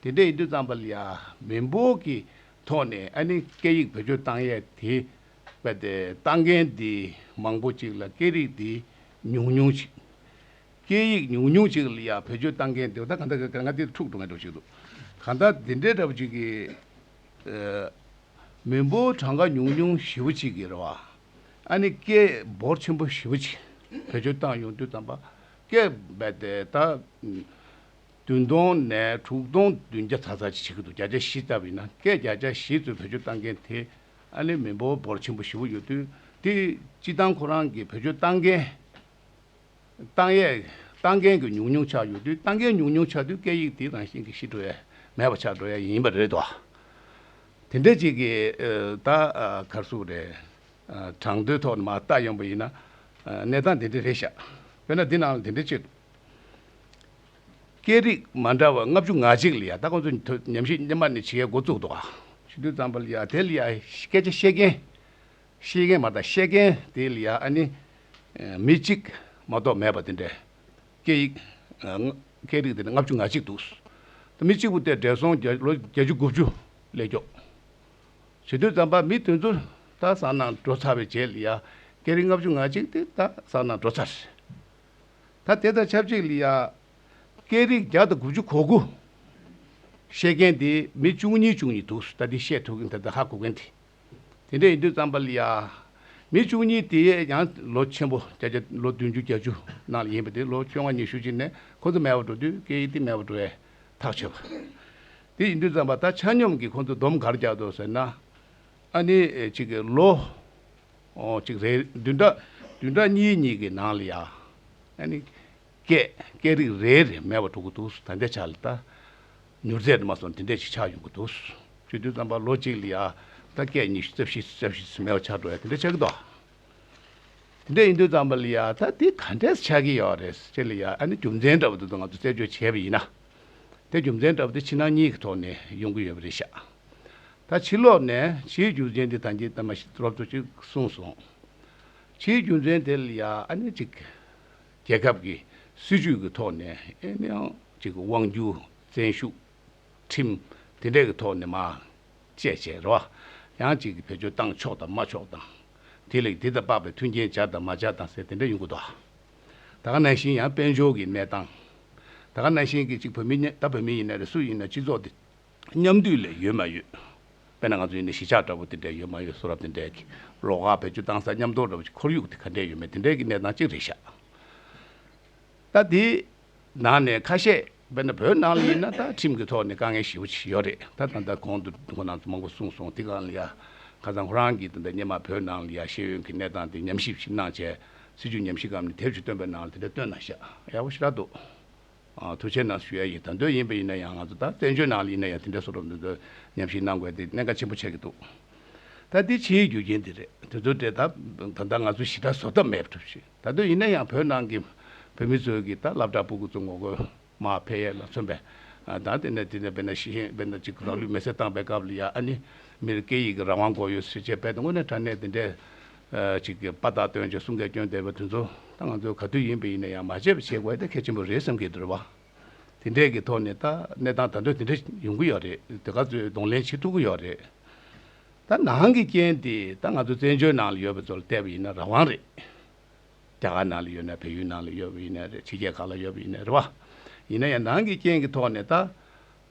དེ་འདྲའི་ཡིག་འབྲུ་གཙང་པ་ལ་ཡང་མི་འབོར་གྱི་ཐོག་ནས་ཨ་ནི་སྐད་ཡིག་བེད་སྤྱོད་བཏང་ཡས་དེ། པད་དེ་བཏང་མཁན་འདི་མང་པོ་ཅིག་ལ་སྐད་རིགས་འདི་ཉུང་ཉུང་ཅིག། སྐད་ཡིག་ཉུང་ཉུང་ཅིག་ལ་ཡང་བེད་སྤྱོད་བཏང་མཁན་འདི་ད་ག་འདྲ་ག་འདྲ་ང་འདི་འཁྲུག་འགྲོ་ངེས་འགྲོ་ཞིག་འདུག་ག་ད་འདི་འདྲའི་འདྲ་པོ་ཅིག་གི། མི་འབོར་གྲངས་ཀ་ཉུང་ཉུང་བཞི་བོ་ཅིག་གི་ར་བ་ཨ་ནི་སྐད་འབོར་ཆེན་པོ་བཞི་བོ་ཅིག་བེད་སྤྱོད་བཏང་ཡོང་དུས་དམ་པ་སྐད་པད་དེ་ད། བདུན་སྟོང་ནས་དྲུག་སྟོང་བདུན་བརྒྱ་ཚ་ཚ་བྱེད་ཀྱི་འདུག་བརྒྱ་ཆ་བཞི་ལྟ་བུ་ཡིན་ན་སྐད་བརྒྱ་ཆ་བཞི་ཙོས་བེད་སྤྱོད་བཏང་མཁན་དེ་ཨ་ནི་མི་འབོར་འབོར་ཆེན་པོ་བཞི་བོ་ཡོད་དུས་དེ་སྤྱི་བཏང་ཁོ་རང་གི་བེད་སྤྱོད་བཏང་མཁན་བཏང་ཡས་བཏང་མཁན་གྱི་ཉུང་ཉུང་ཆགས་ཡོད་དུས་བཏང་མཁན་ཉུང་ཉུང་ཆགས་དུས་སྐད་ཡིག་དེའི་རང་བཞིན་གྱི་ཤི་འགྲོ་ཡས་མེད་པ་ཆགས་འགྲོ་ཡས་ཡིན་པ་རེད་དོ། དེ་འདྲས་ཅིག་གི་ད་གར་སུ་རེད་དྲང་དོན་ཐོག་ནས་མ་བལྟ་ཡོང་པ་ཡིན་ན་གནས་སྟངས་དེ་འདྲས་རེད་ཤག་དཔེར་ན་འདི་ནང་ལ་དེ་འདྲས་བྱས་འདུག། སྐད་རིགས་མ་འདྲ་བ་ལྔ་བཅུ་ང་གཅིག་ལ་ཡ་ད་ཁོང་ཚོས་ཉམས་ཞིབ་སྙེ་མ་ནས་བྱེད་མཁན་འགོ་བཙུགས་འདུག་ག། ཤིན་ཏུ་ཙམ་པ་ལ་ཡ་དེ་ལ་ཡ་སྐད་ཆ་བཤད་མཁན། ཤེས་མཁན་མ་ད་ཤེས་མཁན་དེ་ལ་ཡ་ཨ་ནི། མི་གཅིག་མ་གཏོགས་མེད་པ་དེ་འདྲའི། སྐད་ཡིག། སྐད་རིགས་དེ་ལ་ལྔ་བཅུ་ང་གཅིག་འདུག། ད་མི་གཅིག་པུ་དེ་བགྲེས་སོང་བརྒྱ་ལོ་བརྒྱད་ཅུ་དགུ་བཅུ་ལས་མགྱོགས། ཤིན་ཏུ་ཙམ་པ་མི་དེ་ཚོ་ད་བཟང་ན་འགྲོ་ཚར་བའི་རྗེས་ལ་ཡ་སྐད་རིགས་ལྔ་བཅུ་ང་གཅིག་དེ་ད་བཟང་ན་འགྲོ་ཚར། ད་དེ་དང་ཆབས་ཅིག་ལི་ཡཱ། སྐད་རིགས་བརྒྱ་དང་དགུ་བཅུ་གོ་དགུ། བཤད་མཁན་དེ་མི་བཅུ་གཉིས་བཅུ་གཉིས་འདུག་ད་དེ་བཤད་ཐུབ་མཁན་དེ་ད་ཧ་གོ་མཁན་དེ། དེ་འདྲ་ཡིན་དུས་རྩམ་པ་ལི་ཡཱ། མི་བཅུ་གཉིས་དེ་ཡང་ལོ་ཆེན་པོ་བརྒྱ་བརྒྱ་ལོ་བདུན་ཅུ་བརྒྱ་ཅུ་ནང་ལ་ཡིན་པ་དེ་ལོ་བཅོ་ལྔ་ཉི་ཤུ་ཅིག་ནས་ཁོ་ཚོ་མལ་བར་འགྲོ་དུས་སྐད་ཡིག་དེ་མལ་བར་འགྲོ་བས་ཐག་ཆོད་པ། དེ་ཡིན་དུས་རྩམ་པ་ད་ཆ་སྙོམས་ཀྱིས་ཁོ་ཚོ་སྡོམ་གར་རྒྱག་འདོད་ཟེར་ན། ཨ་ནི་ཅིག་ལོ། གཅིག་རེ་བདུན་ཕྲག་བདུན་ཕྲག་གཉིས་གཉིས་ཀྱི་ནང་ལ་ཡང། སྐད། སྐད་རིགས་རེ་རེ་མེད་པར་འགྲོ་གི་འདུག་ད་ལྟའི་ཆར་ལ་ད། མྱུར་ཚད་དུ་མ་སོང་དེ་འདྲས་ཤིག་ཆགས་ཡོང་གི་འདུག་བཅུ་བདུན་ཙམ་པར་ལོ་གཅིག་ལ་ཡང་ད་སྐད་ཉི་ཤུ་རྩ་བཞི་རྩ་བཞི་སུ་མེད་པ་ཆགས་འགྲོ་ཡ་དེ་འདྲས་ཆགས་ཀྱི་འདུག། དེ་འདྲས་ཡིན་དུས་ཙམ་པ་ལ་ཡང་ད་དེ་ག་འདྲས་ཆགས་ཀྱི་ཡོད་རེད་ཅེས་ལ་ཡང་ཨ་ནི་རྒྱུ་མཚན་འདྲ་བོ་དེ་ཚོ་ང་ཚོས་རྩད་གཅོད་བྱས་པ་ཡིན་ན། དེ་རྒྱུ་མཚན་འདྲ་བོ་དེ་ཕྱི་ནང་གཉིས་ཀྱི་ཐོག་ནས་ཡོང་གི་ཡོད་པ་རེད་ཤག། ད་ཕྱི་ལོག་ནས་ཕྱིའི་རྒྱུ་མཚན་དེ་དང་གྱི་དམ་པ་ཞིག་ཐུགས་རབ་ཏུ་ཅིག་གསུངས་སོང། ཕྱིའི་རྒྱུ་མཚན་དེ་ལ་ཡ་ཨ་ནི་ཅིག་རྒྱལ་ཁབ་ཀྱི་སྲིད་ཇུས་ཀྱི་ཐོག་ནས་ཨེ་ནི་ཨང་ཅིག་དབང་རྒྱུ་བཙན་ཤུགས་ཁྲིམས་དེ་འདྲས་ཀྱི་ཐོག་ནས་མ་བཅད་བྱས་ར་བ་ཡང་ཅིག་བེད་སྤྱོད་བཏང་ཆོག་དང་མ་ཆོག་དང། དེ་ལས་དེ་དང་དཔག་པའི་མཐུན་རྐྱེན་བྱ་དང་མ་བྱ་དང་ཟེར་དེ་འདྲས་ཡོང་གི་འདུག་ད་ག་ན་ཤིན་ཡང་དཔལ་འབྱོར་གྱི་གནས་སྟངས། ད་ག་ན་ཤིན་གྱི་ཅིག་བོད་མི་ཉེན་ད་བོད་མི་ཡིན་ན་རེ་སུ་ཡིན་ན་སྤྱི་ཚོགས་དེ། མཉམ་འདུས་ལས་ཡོད་མ་ཡོད། དཔེར་ན་ང་ཚོ་ཡོད་ནི་གཞིས་ཆགས་འདྲ་པོ་དེ་འདྲས་ཡོད་མ་ཡོད་གསུང་རབ་དེ་འདྲས་ཀྱི་ལོགས་ཁག་བེད་སྤྱོད་བཏང་ས་ཉམས་རྟོགས་འདྲ་པོ་ཞིག་ཁོར་ཡུག་དེ་ག་འདྲས་ཡོད་མེད་དེ་འདྲས་ཀྱི་གནས་སྟངས་གཅིག་རེད་ཤག་ད་དེ་ནང་ནས་ཁ་ཤས་དཔེར་ན་བོད་ནང་ལ་ཡིན་ན་ད་ཁྲིམས་ཀྱི་ཐོག་ནས་དཀའ་ངལ་ཞི་བོ་ཞིག་ཡོད་རེད་ད་ད་ལྟ་གོང་དུ་ཁོ་ནང་ཚོ་མང་པོ་གསུང་སོང་དེ་གང་ལ་ཡ་ཁ་ཚང་ཁོ་རང་གིས་ད་ལྟ་ཉེ་མ་བོད་ནང་ལ་ཡ་ཤེས་ཡོན་གྱི་གནས་སྟངས་དེ་ཉམས་ཞིབ་ཞིག་གནང་བྱས་སྲིད་ཇུས་ཉམས་ཞིབ་གམ་ནི་དེབ་ཞིག་བཏོན་པའི་ནང་ལ་དེ་འདྲས་བཏོན་ན་ཤག་ཡག་པོ་ཞིག་རག་འདུག། ཐུགས་ཆེན་ནང་ཞུ་ཡ་ཡིན་ད་འདོད་ཡིན་པ་ཡིན་ན་ཡང་ང་ཚོ་ད་བཙན་བྱོལ་ནང་ལ་ཡིན་ན་ཡང་དེ་འདྲ་བཟོ་རོགས་འདི་འདྲ་ཉམས་ཞིབ་གནང་དགོས་དེ་གནད་འགག་ཆེན་པོ་ཆགས་ཀྱི་འདུག་ད་འདི་ཕྱིའི་རྒྱུ་རྐྱེན་དེ་རེད་དེ་ཚོ་འདྲེ་ད་ད་ལྟ་ང་ཚོ་ཞི་དྲག་བཟོ་ཐབས་མེད་གྲུབ་ཤིང་ད་འདོད་ཡིན་ན་ཡང་བོད་ནང་གི་བོད་མི་ཚོའི་གི་ད་བླ་བྲག་སྤུ་གུ་ཚོ་ངོ་རྒོལ་མ་ཕེ་ཡས་ལ་མཚོན་པས་ད་དེ་ནས་དེ་ནས་དཔེར་ན་ཤི་ཧེ་དཔེར་ན་ཅིག་རང་ལུས་མེ་སྲེག་བཏང་པའི་སྐབས་ལ་ཡང་ཨ་ནི་མིར་སྐད་ཡིག་གི་རང་དབང་དགོས་ཡོད་ཟེར་བྱས་པས་ད་དངོས་གནས་དྲ་གནས་དེ་འདྲས་ཅིག་གི་པ་དག་སྟོན་ཅིག་གསུང་གི་སྐྱོན་བསྡད་པའི་དུས་ཚོད་ད་ང་ཚོའི་ག་དུས་ཡིན་པ་ཡིན་ན་ཡང་མ་བྱས་པ་བྱེད་དགོས་ད་གལ་ཆེན་པོ་རེད་བསམ་གི་འདུག་རེད་བ། དེ་འདྲས་ཀྱི་ཐོག་ནས་ད་གནས་སྟངས་ད་དོན་དེ་འདྲས་ཡོང་གི་ཡོད་རེད་དེ་ག་ཚོད་གདོང་ལེན་བྱེད་ཐུབ་ཀྱི་ཡོད་རེད། ད་ནང་གི་རྐྱེན་དེ་ད་ང་ཚོ་བཙན་བྱོལ་ནང་ལ་ཡོད་པ་ཚོ་ལ་བལྟས་པ་ཡིན་ན་རང་དབང་རེད། རྒྱ་གར་ནང་ལ་ཡོད་ན་བལ་ཡུལ་ནང་ལ་ཡོད་པ་ཡིན་ན་རེད་ཕྱི་རྒྱལ་གང་ལ་ཡོད་པ་ཡིན་ན་རེད་བ། ཡིན་ན་ཡང་ནང་གི་རྐྱེན་གྱི་ཐོག་ནས་ད་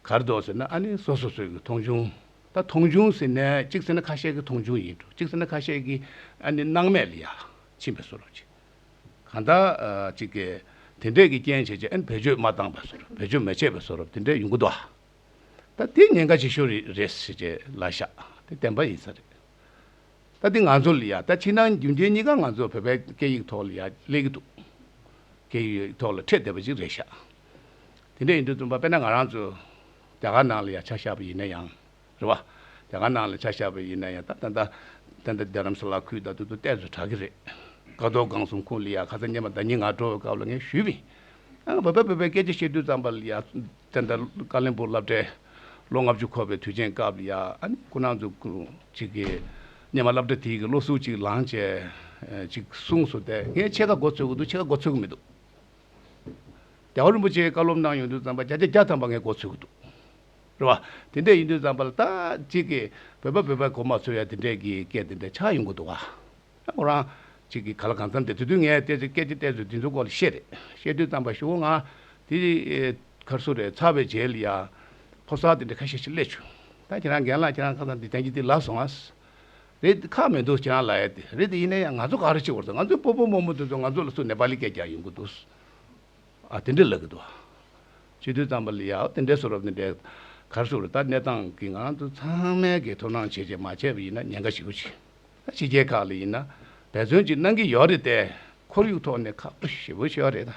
གར་འདོགས་ཟེར་ན་ཨ་ནི་སོ་སོ་སོས་ཀྱི་མཐོང་ཆུང། ད་མཐོང་ཆུང་ཟེར་ནས་གཅིག་ཟེར་ན་ཁ་ཤས་ཀྱི་མཐོང་ཆུང་ཡིན་འགྲོ་གཅིག་ཟེར་ན་ཁ་ཤས་ཀྱི་ཨ་ནི་སྣང་མེད་ལ་ཡ་ཕྱིན་པའི་བཟོ་རུ་བྱེད། གང་ལྟར་གཅིག་གིས་དེ་འདྲས་ཀྱི་རྐྱེན་བྱས་ཀྱི་ཨ་ནི་བེད་སྤྱོད་མ་བཏང་བའི་བཟོ་རུ་བེད་སྤྱོད་མ་བྱས་པའི་བཟོ་རུ་དེ་འདྲས་ཡོང་གི་འདུག་ད་དེ་ཉེན་ཁ་ཆེ་ཤོས་རེད་རེད་ཟེར་ཀྱི་ལ་ཤ་དེ་བདེན་པ་ཡིན་ས་རེད། ད་འདི་ང་ཚོ་ལ་ཡ་ད་ཕྱི་ནང་རྒྱུན་རྐྱེན་གཉིས་ཀ་ང་ཚོ་བོད་པའི་སྐད་ཡིག་ཐོག་ལ་ཡ་སླེབས་ཀྱི་འདུག་སྐད་ཡིག་ཐོག་ལ་འཕྲད་བསྡད་པ་ཅིག་རེད་ཤག། དེ་འདྲ་ཡིན་དུས་བཙུན་པ་དཔེར་ན་ང་རང་ཚོ་རྒྱ་གར་ནང་ལ་ཡང་ཆ་བཞག་པ་ཡིན་ན་ཡང་རེད་བ། རྒྱ་གར་ནང་ལ་ཆ་བཞག་པ་ཡིན་ན་ཡང་ད་ལྟ་ད་ལྟ་འདི་རྡ་རམ་ས་ལ་ཁུལ་ད་དུ་དུ་ཏས་སུ་གྲགས་ཀྱི་རེད། ཀ་རྡོ་སྒང་སུམ་ཁུང་ལི་ཡ་ཁ་ཚ་སྙན་པ་ད་ཉིན་ང་འགྲོ་བའི་སྐབས་ལ་ངས་ཞུས་མིན། ཨང་བོད་པ་བོད་པའི་སྐད་ཆ་བཤད་དུས་ཙམ་པ་ལ་ཡང་ད་ལྟ་ཀ་ལན་པུར་བླ་བྲེ་ལོ་ལྔ་བཅུ་འཁོར་བའི་དུས་ཆེན་སྐབས་ལ་ཡང་སྐུ་ན་ཚོ་གཅིག་གིས་སྙན་པ་བླ་བྲེ་དེའི་གི་བློ་གཟུ་གཅིག་ལང་བཅས་གཅིག་གསུངས་སོ་དེ་ངས་ཕྱེད་ཀ་མགོ་ཚོས་ཀྱི་འདུག་ཕྱེད་ཀ་མགོ་ཚོས་ཀྱི་མི་འདུག། རྒྱལ་བ་རིན་པོ་ཆེའི་བཀའ་སློབ་གནང་ཡོང་དུས་རྩམ་པ་བརྒྱ་ཆ་བརྒྱ་ཐམ་པ་ངས་གོ་ཚོད་ཀྱི་འདུག་རེད་བ། དེ་འད་ཡིན་དུས་རྩམ་པ་ལ་ད་ཅིག་གི་བོད་པ་བོད་པའི་གོ་མ་ཚོད་ཡ་དེ་འད་གི་སྐད་དེ་འད་ཆགས་ཡོང་གི་འདུག་བ། ཁོ་རང་ཅིག་གི་ག་ལ་གང་འཚམ་འད་དེ་དུས་ངས་བལྟས་ཚོད་སྐད་ཅིག་བལྟས་ཚོད་དེ་ཚོའི་སྐོར་ལ་བཤད་རེད་བཤད་དུས་རྩམ་པ་ཞུ་བོ་ང་དེ་གར་སུ་རེད་ཚར་བའི་རྗེས་ལ་ཡ། ཕོ་གསར་དེ་འད་ཁ་ཤས་ཤིག་སླེབས་བྱུང། ད་ཁྱེད་རང་རྒན་ལགས་ཁྱེད་རང་ཁ་སང་འདི་དེང་གི་འདི་ལབ་སོང་ངས། རེད་དེ་ཁག་མི་འདུག་ཁྱེད་རང་ལ་ཡོད་དེ་རེད་དེ་ཡིན་ན་ཡང་ང་ཚོ་ག་རེ་བྱེད་དགོས་རེད་ང་ཚོའི་སྤོ་སྤོ་རྨོ་རྨོ་དེ་ཚོ་ང་ཚོ་ལ་སུ་ནེ་པ་ལི་སྐད་རྒྱག་ཡོང་གི་འདུག་ཨ་དེ་འདྲས་ལབ་གི་འདུག་ཨ། སྤྱི་འཐུས་ཙམ་པ་ལི་ཡའོ་དེ་འདྲས་སུ་རོབ་དེ་འདྲས་ག་རེ་བྱུང་རེད་ད་གནས་སྟངས་ཀྱི་ངང་དུ་ཚང་མས་ཀྱི་ཐུགས་སྣང་བྱེད་བྱེད་མ་བྱས་པ་ཡིན་ན་ཉེན་ཁ་ཞིག་ཡོད་ཅིང། ད་ཕྱི་རྒྱལ་ཁག་ལ་ཡིན་ན་འབད་བརྩོན་ཅིག་གནང་གི་ཡོད་རེད་དེ་ཁོར་ཡུག་ཐོག་ནས་ཁག་པོ་ཞེ་པོ་ཤོར་རེད་ད།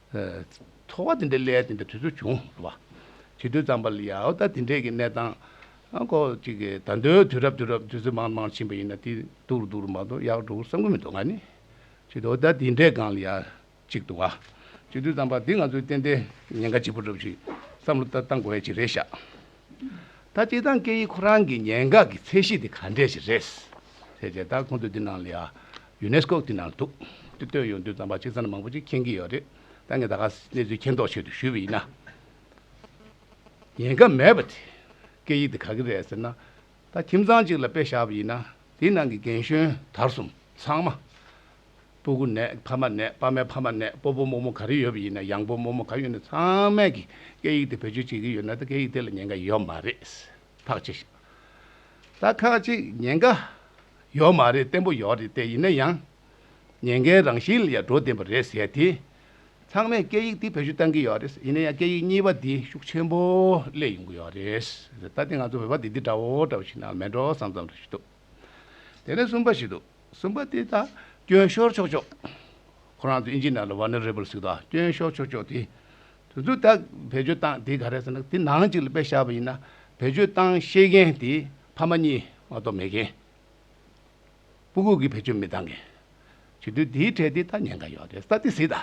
ཚོར་བ་དེ་འདྲའི་སླད་དེ་འདྲའི་དུས་ཚོད་བྱུང་ཟེར་བ། བྱིས་དུས་ཙམ་པ་ལ་ཡང་ད་དེ་འདྲའི་གི་གནས་སྟངས་ཁོ་ཅིག་གི་ད་འདོད་དུས་རབས་དུས་རབས་དུས་ཚོད་མང་མང་ཕྱིན་པ་ཡིན་ན་དེ་འདུག་རུ་འདུག་རུ་མ་འདུག་ཡག་འགྲོ་བསམ་གི་མི་འདུག་ང་ནི། བྱིས་དུས་ད་དེ་འདྲའི་སྒང་ལ་ཡང་ཅིག་འདུག་ཨ། བྱིས་དུས་ཙམ་པ་འདི་ང་ཚོའི་ཏན་ཏན་ཉེན་ཁ་ལྗིད་པོ་སྒྲུབ་ཞིག་བསམ་བློ་ད་བཏང་དགོས་ཡ་ཅིག་རེད་ཤག། ད་སྤྱི་བཏང་སྐད་ཡིག་ཁོ་རང་གི་ཉེན་ཁ་གི་ཚད་གཞི་དེ་ག་འདྲས་ཞིག་རེད། ཟེར་བྱས་ད་ཁོང་ཚོ་འདི་ནང་ལ་ཡང་ཡུ་ནེ་སི་ཀོ་དེ་ནང་འདུག་དེ་བཏོན་ཡོང་དུས་རྩམ་པ་གཅིག་ཚར་མང་པོ་ཅིག་མཁྱེན་གྱི་ཡོད་རེད་ད་ངས་ད་ག་གནས་ཚུལ་མཁྱེན་རྟོགས་བྱེད་དུ་ཞུས་པ་ཡིན་ན། ཉན་ཁ་མེད་པ་དེ་སྐད་ཡིག་དེ་ག་གི་རེད་ཟེར་ན། ད་ཁྱིམ་ཚང་གཅིག་ལ་དཔེ་བཞག་པ་ཡིན་ན་དེའི་ནང་གི་རྒན་གཞོན་དར་གསུམ་ཚང་མ། སྤུ་གུ་ནས་ཕ་མ་ནས་ཕ་མའི་ཕ་མ་ནས་སྤོ་སྤོ་རྨོ་རྨོ་ག་རེ་ཡོད་པ་ཡིན་ན་ཡང་སྤོ་རྨོ་རྨོ་ག་ཡོད་ན་ཚང་མས་ཀྱི་སྐད་ཡིག་དེ་བེད་སྤྱོད་བྱེད་ཀྱི་ཡོད་ན་ད་སྐད་ཡིག་དེ་ལ་ཉན་ཁ་ཡོད་མ་རེད། ཐག་ཅིག་ཤ་སྟག་ཁ་ཅིག་ཉེན་ཁ་ཡོད་མ་རེད་བརྟན་པོ་ཡོད་རེད་དེ་ཡིན་ན་ཡང་ཉེན་ཁའི་རང་བཞིན་ལ་ཡང་འགྲོ་བདེན་པ་རེད་ཟེར་དེ་ཚང་མས་སྐད་ཡིག་དེ་བེད་སྤྱོད་གཏང་གི་ཡོད་རེད་ཡིན་ན་ཡང་སྐད་ཡིག་གཉིས་པ་དེ་ཤུགས་ཆེན་པོ་སླེབས་ཡོང་གི་ཡོད་རེད་ད་ལྟ་ང་ཚོ་བོད་པ་དེ་འདི་འདྲ་བོ་འདྲ་བོ་ཞིག་ན་མེད་འགྲོ་སང་ཙམ་རེ་ཞིག་འདུག་དེ་ནས་གསུམ་པ་ཞིག་འདུག་གསུམ་པ་དེ་ད་སྐྱོན་ཤོར་ཆོག་ཆོག་ཁོ་རང་ཚོ་ཨིན་ཇི་ནཱ་ལ་ཝཱ་ནཱ་རེ་བཱི་ལ་ཟིག་ད་སྐྱོན་ཤོར་ཆོག་ཆོག་དེ། དུས་ཚོད་དག་བེད་སྤྱོད་སྟངས་དེ་ག་རེ་ཟེར་ན་དེ་ནང་གཅིག་ལ་པད་ཤག་པ་ཡིན་ན་བེད་སྤྱོད་སྟངས་ཤེས་མཁན་དེ་ཕ་མ་གཉིས་མ་གཏོགས་མེད་མཁན། སྤུ་གུག་གི་བེད་སྤྱོད་མི་བཏང་མཁན། བྱེད་དུས་དེའི་གྲས་དེ་ད་ཉེན་ཁ་ཡོད་རེད་ས་དེ་ཟིག་ད་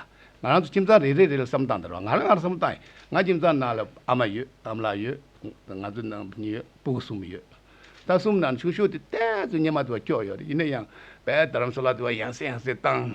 ང་རང་ཚོ་ཁྱིམ་ཚང་རེ་རེ་རེ་ལ་བསམ་བཏང་དེ་རོགས་ང་རང་ང་རང་བསམ་བཏང་ཡིན་ང་ཁྱིམ་ཚང་ནང་ལ་ཨ་མ་ཡོད་ཨ་མ་ལགས་ཡོད་ང་ཚོ་ནང་མི་གཉིས་ཡོད་སྤུ་གུ་གསུམ་ཡོད་ད་གསུམ་ནང་ཆུང་ཤོས་དེ་གཏན་ཚོད་སྙེ་མ་དེ་བ་སྐྱོ་ཡོད་རེད་ཡིན་ན་ཡང་དཔལ་དར་རམ་སོ་ལ་དེ་བ་ཡང་སེ་ཡང་སེ་བཏང།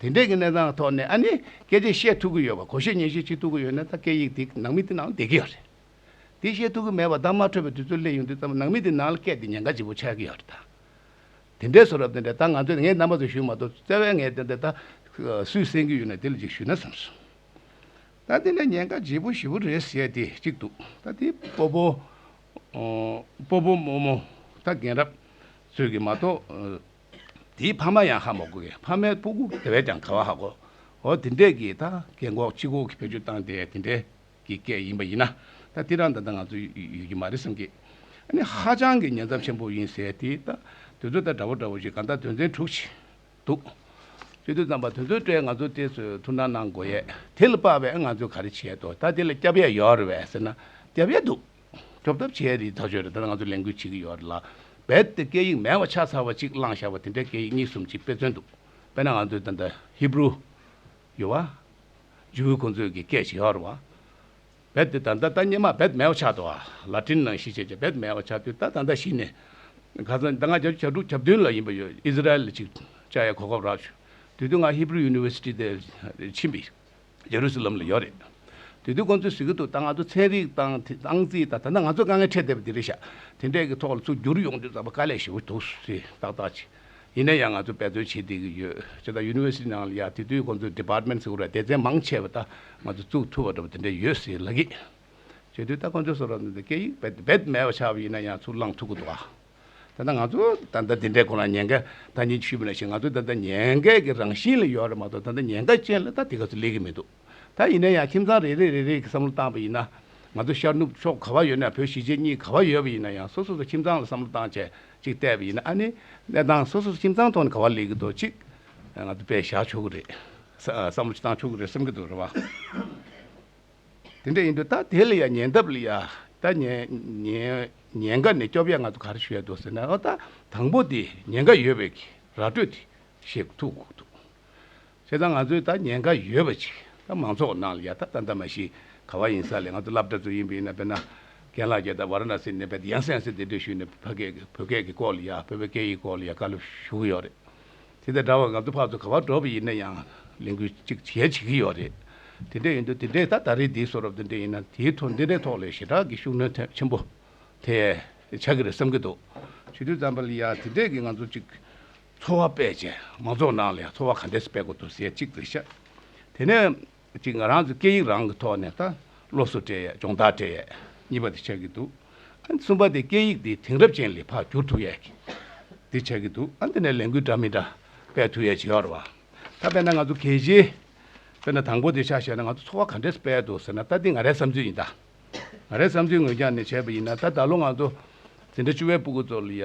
དེ་འདྲས་ཀྱི་གནས་སྟངས་ཐོག་ནས་ཨ་ནི་སྐད་ཆ་བཤད་ཐུབ་ཀྱི་ཡོད་པ་གོ་ཤེས་ཉན་ཤེས་བྱེད་ཐུབ་ཀྱི་ཡོད་ན་ད་སྐད་ཡིག་འདི་ནང་མི་དེ་ནང་བསྡད་ཀྱི་ཡོད་རེད། འདི་བཤད་ཐུབ་ཀྱི་མེད་པར་གདངས་མ་འཕྲོད་པའི་དུས་ཚོད་སླེབས་ཡོང་དུས་ཙམ་ནང་མི་དེ་ནང་ལ་སྐད་འདི་ཉན་ཁ་ལྗིད་པོ་ཆགས་ཀྱི་ཡོད་རེད་ད། དེ་འདྲས་སོ་རབ་དེ་འདྲས་ད་ང་ཚོས་ངའི་རྣམ་པ་ཚོ་ཞུས་མ་གཏོགས་བཙལ་བས་ངས་དེ་འདྲས་ད་སུས་གསན་རྒྱུ་ཡོད་ན་དེ་ལ་ཅིག་ཞུས་ན་བསམ་སོང། ད་འདི་འདྲས་ཉན་ཁ་ལྗིད་པོ་ཞིབ་པོ་རེད་ཟེར་ཡས་དེ་གཅིག་འདུག་ད་དེ་སྤོ་བོ། སྤོ་བོ་རྨོ་རྨོ། ད་རྒན་རབས། ཚོས་ཀྱི་མ་གཏོགས། དེའི་ཕ་མ་ཡང་ཧ་མོ་གོ་གི་ཕ་མའི་སྤུ་གུ་དེ་བས་ཀྱང་ག་བ་ཧ་གོ། འོ་དེ་འདྲས་ཀྱི་ད་གེ་འགོག་ཅི་གོ་གི་བེད་སྤྱོད་བཏང་དེ་དེ་འདྲས་ཀྱི་སྐད་ཡིན་པ་ཡིན་ན་ད་དེ་རང་ད་ད་ང་ཚོ་ཡོད་ཀྱི་མ་རེད་བསམ་གི། ཨ་ནི་ཧ་ཅང་གི་ཉེན་ཚབས་ཆེན་པོ་ཡིན་ཟེར་དེ་ད་དོན་ཚོད་ལྟ་འདྲ་བོ་འདྲ་བོ་ཞིག་ག་ད་དོན་ཚན་དྲུག་ཅིག་འདུག་ཅི་དུས་ཙམ་པ་དོན་ཚོད་ལྟའི་ང་ཚོ་དེ་ཚོས་ཐུགས་སྣང་གནང་དགོས་ཡས་དེ་ལ་དཔག་པའི་ང་ཚོས་ག་རེ་བྱས་དོ་ད་དེ་ལ་སྐྱབས་ཡས་ཡོད་རེད་བས་ཟེར་ན་སྐྱབས་ཡས་འདུག། སྐྱོབ་ཐབས་བྱས་རིགས་ཐག་གཅོད་རེད་ད་ནི་ང་ཚོས་ལས་འགུལ་བྱེད་ཀྱི་ཡོད་རེད་ལ། རྦད་དེ་སྐད་ཡིག་མེད་བ་ཆ་ཚང་བ་གཅིག་བླངས་བཞག་པ་དེ་འདྲའི་སྐད་ཡིག་གཉིས་གསུམ་གཅིག་དཔེ་མཚོན་འདུག་དཔེར་ན་ང་ཚོའི་ད་ལྟ Hebrew། ཡོད་བ། Jew ཁོང་ཚོས་ཀྱི་སྐད་ཇི་ཧོར་བ། རྦད་དེ་ད་ལྟ་ད་སྙེ་མ་རྦད་མེད་བ་ཆགས་འདུག་ལ་ཏིན་ནང་གཞིས་བྱེས་ཀྱི་རྦད་མེད་བ་ཆགས་དུས་ད་ད་ལྟ་གཞི་ནས། ག་ཚོད་ད་ང་གྱ་བཅུ་གྱ་དྲུག་གྱ་བདུན་ལ་ཡིན་པ་ཡོད Israel ལ་ཅིག་ཅར་ཡ་གོ་སྐབས་རག་བྱུང་དུས་དུས་ང Hebrew University དེར་ཕྱིན་པའི་ལས་རོགས་སུ་ལམ་ལ་ཡོད་རེད། དེ་དུས་ཁོང་ཚོས་ཟེར་གྱི་འདུག་ད་ང་ཚོ་ཚན་རིག་དང་ཏང་རྩིས་དང་ད་ནི་ང་ཚོ་དཀའ་ངལ་འཕྲད་བསྡད་པ་དེ་རེད་ཤག་དེ་འདྲས་ཀྱི་ཐོག་ལ་ཚུར་བསྒྱུར་ཡོང་རྒྱུ་ཙམ་དཀའ་ལས་ཞེ་བོ་འདུག་ཟེར་ཏག་ཏག་བྱས། ཡིན་ན་ཡང་ང་ཚོས་འབད་བརྩོན་བྱེད་བསྡད་ཀྱི་ཡོད། ཅེས་དང University ནང་ལ་ཡང་དེ་དུས་ཁོང་ཚོས Department ཟེར་བ་ར་སྡེ་ཚན་མང་ཆེ་བ་ད་ང་ཚོས་བཙུགས་ཐུབ་པ་འདྲ་བོ་དེ་འདྲས་ཡོད་ཟེར་ལགས། བྱས་དུས་ད་ཁོང་ཚོས་སོ་ར་ནས་ད་སྐད་ཡིག་རྦད་དེ་རྦད་དེ་མེད་པ་ཆགས་པ་ཡིན་ན་ཡང་ཚུར་བླངས་ཐུབ་ཀྱི་འདུག་ཨ། ད་ལྟ་ང་ཚོ་ད་ལྟ་དེ་འདྲའི་སྐོར་ལ་ཉེན་ཁ་ད་ནི་ཆུད་མི་ལ་ཞིག་ང་ཚོ་ད་ལྟ་ཉེན་ཁའི་གི་རང་བཞིན་ལ་ཡོད་རེད་མ་གཏོགས་ད་ལྟ་ཉེན་ཁ་ཅན་ལ་ད་དེ་ག་ཚོད་སླེབས་གི་མི་འདུག་ད་ཡིན་ན་ཡང་ཁྱིམ་ཚང་རེ་རེ་རེ་རེ་གི་བསམ་བློ་བཏང་པ་ཡིན་ན། ང་ཚོ་ཤར་ནུབ་ཕྱོགས་ག་བ་ཡོད་ན་བོད་གཞིས་བྱེས་གཉིས་ག་བ་ཡོད་པ་ཡིན་ན་ཡང་སོ་སོ་སོ་ཁྱིམ་ཚང་ལ་བསམ་བློ་བཏང་བྱས་ཅིག་བལྟས་པ་ཡིན་ན་ཨ་ནི་གནས་སྟངས་སོ་སོ་སོ་ཁྱིམ་ཚང་ཐོག་ནས་ག་བ་ལེགས་གི་འདུག་ཅིག་ང་ཚོ་དཔེ་བཞག་ཆོག་གི་རེད། བསམ་བློ་བཏང་ཆོག་གི་རེད་བསམ་གི་འདུག་རེད་བ། དེ་འདྲ་ཡིན་དུས་ད་དེ་ལ་ཡང་ཉན་ཐབས་ལ་ཡང་ཉན་ཁ་ནས་སྐྱོབ་ཡ་ང་ཚོ་ག་རེ་བྱེད་དགོས་ཟེར་ན་ཨོ་ད་དང་པོ་དེ་ཉན་ཁ་ཡོད་པའི་ར་སྤྲོད་དེ་བྱེད་ཐུབ་དགོས་འདུག་བྱས་ཙང་ང་ཚོའི་ད་ཉན་ཁ་ཡོད་པ་ཅིག་ད་མང་ཚོགས་ནང་ལ་ཡང་ད་ད་འདྲ་མ་ཞིག་ག་བ་ཡིན་ས་ལས་ང་ཚོ་སླབ་གྲ་ཚོ་ཡིན་པས་ན་དཔེར་ན་རྒན་ལགས་ཀྱིས་ད་བར་ན་སི་ནས་བལ་ཡང་སན་སི་དེ་འདྲ་ཞུས་ནས་ཕ་སྐད་ཀྱི་བོད་སྐད་ཀྱི་སྐོར་ལ་ཡང་བོད་པའི་སྐད་ཡིག་སྐོར་ལ་ཡང་བཀའ་སློབ་ཞུ་གི་ཡོད་རེད། དེ་དང་འདྲ་བར་ང་ཚོ་ཕར་ཚུར་ག་བར་འགྲོ་བ་ཡིན་ན་ཡང་ལས་འགུལ་གཅིག་གཞན་བྱེད་ཀྱི་ཡོད་རེད། དེ་འདྲས་ཡིན་དུས་དེ་འདྲས་ད་ད་རེས་འདིའི་གསོལ་ར་འདི་འདྲས་ཡིན་ན་དེའི་ཐོག་འདི་འདྲས་ཐོག་ལས་ཞེ་དྲག་གི་ཤུགས་སྣོན་ཆེན་པོ་དེ་ཆགས་ཀྱི་རེད་བསམ་གྱི་འདུག་ཞུ་དུས་ཙམ་པ་ལ་ཡང་དེ་འདྲས་ཀྱི་ང་ཚོ་གཅིག་འཚོ་བ་སྤེལ་ཅིང་མང་ཚོགས་ནང་ལས་འཚོ་བ་ག་འདྲས་སུ་སྤེལ་དགོས་འདུག་ཟེར་གཅིག་རེ་བཤད་དེ་ནས། གཅིག་ང་རང་ཚོའི་སྐད་ཡིག་རང་གི་ཐོག་ནས་ད་སློབ་གསོ་སྤྲད་ཡས་སྦྱོང་བརྡར་སྤྲད་ཡས་གཉིས་པ་དེ་ཆགས་ཀྱི་འདུག་ཨ་གསུམ་པ་དེ་སྐད་ཡིག་དེ་དེང་རབས་ཅན་ལས་ཕར་བསྒྱུར་ཐུབ་ཡས་ཀྱི་དེ་ཆགས་ཀྱི་འདུག་ཨ་འདི་ནས་ལས་འགུལ་འདྲ་མི་འདྲ་སྤེལ་ཐུབ་ཡས་བྱེད་ཡོར་བ་ད་དཔེར་ན་ང་ཚོ་གལ་ཆེའི་དཔེར་ན་དང་པོ་དེ་ཆ་བཤད་ན་ང་ཚོ་འཚོ་བ་ག་འདྲས་སྤེལ་འདུག་ཟེར་ན་ད་འདི་ང་རའི་བསམ་ཚུལ་ཡིན་ད་ང་རའི་བསམ་ཚུལ་ངོས་ཀྱང་ནས་བྱས་པ་ཡིན་ན་ད་ད་ལོ་ང་ཚོ་འཛིན་གྲྭ་བཅུ་བའི་སྤུ་གུ་ཚོ་ལ་ཡ།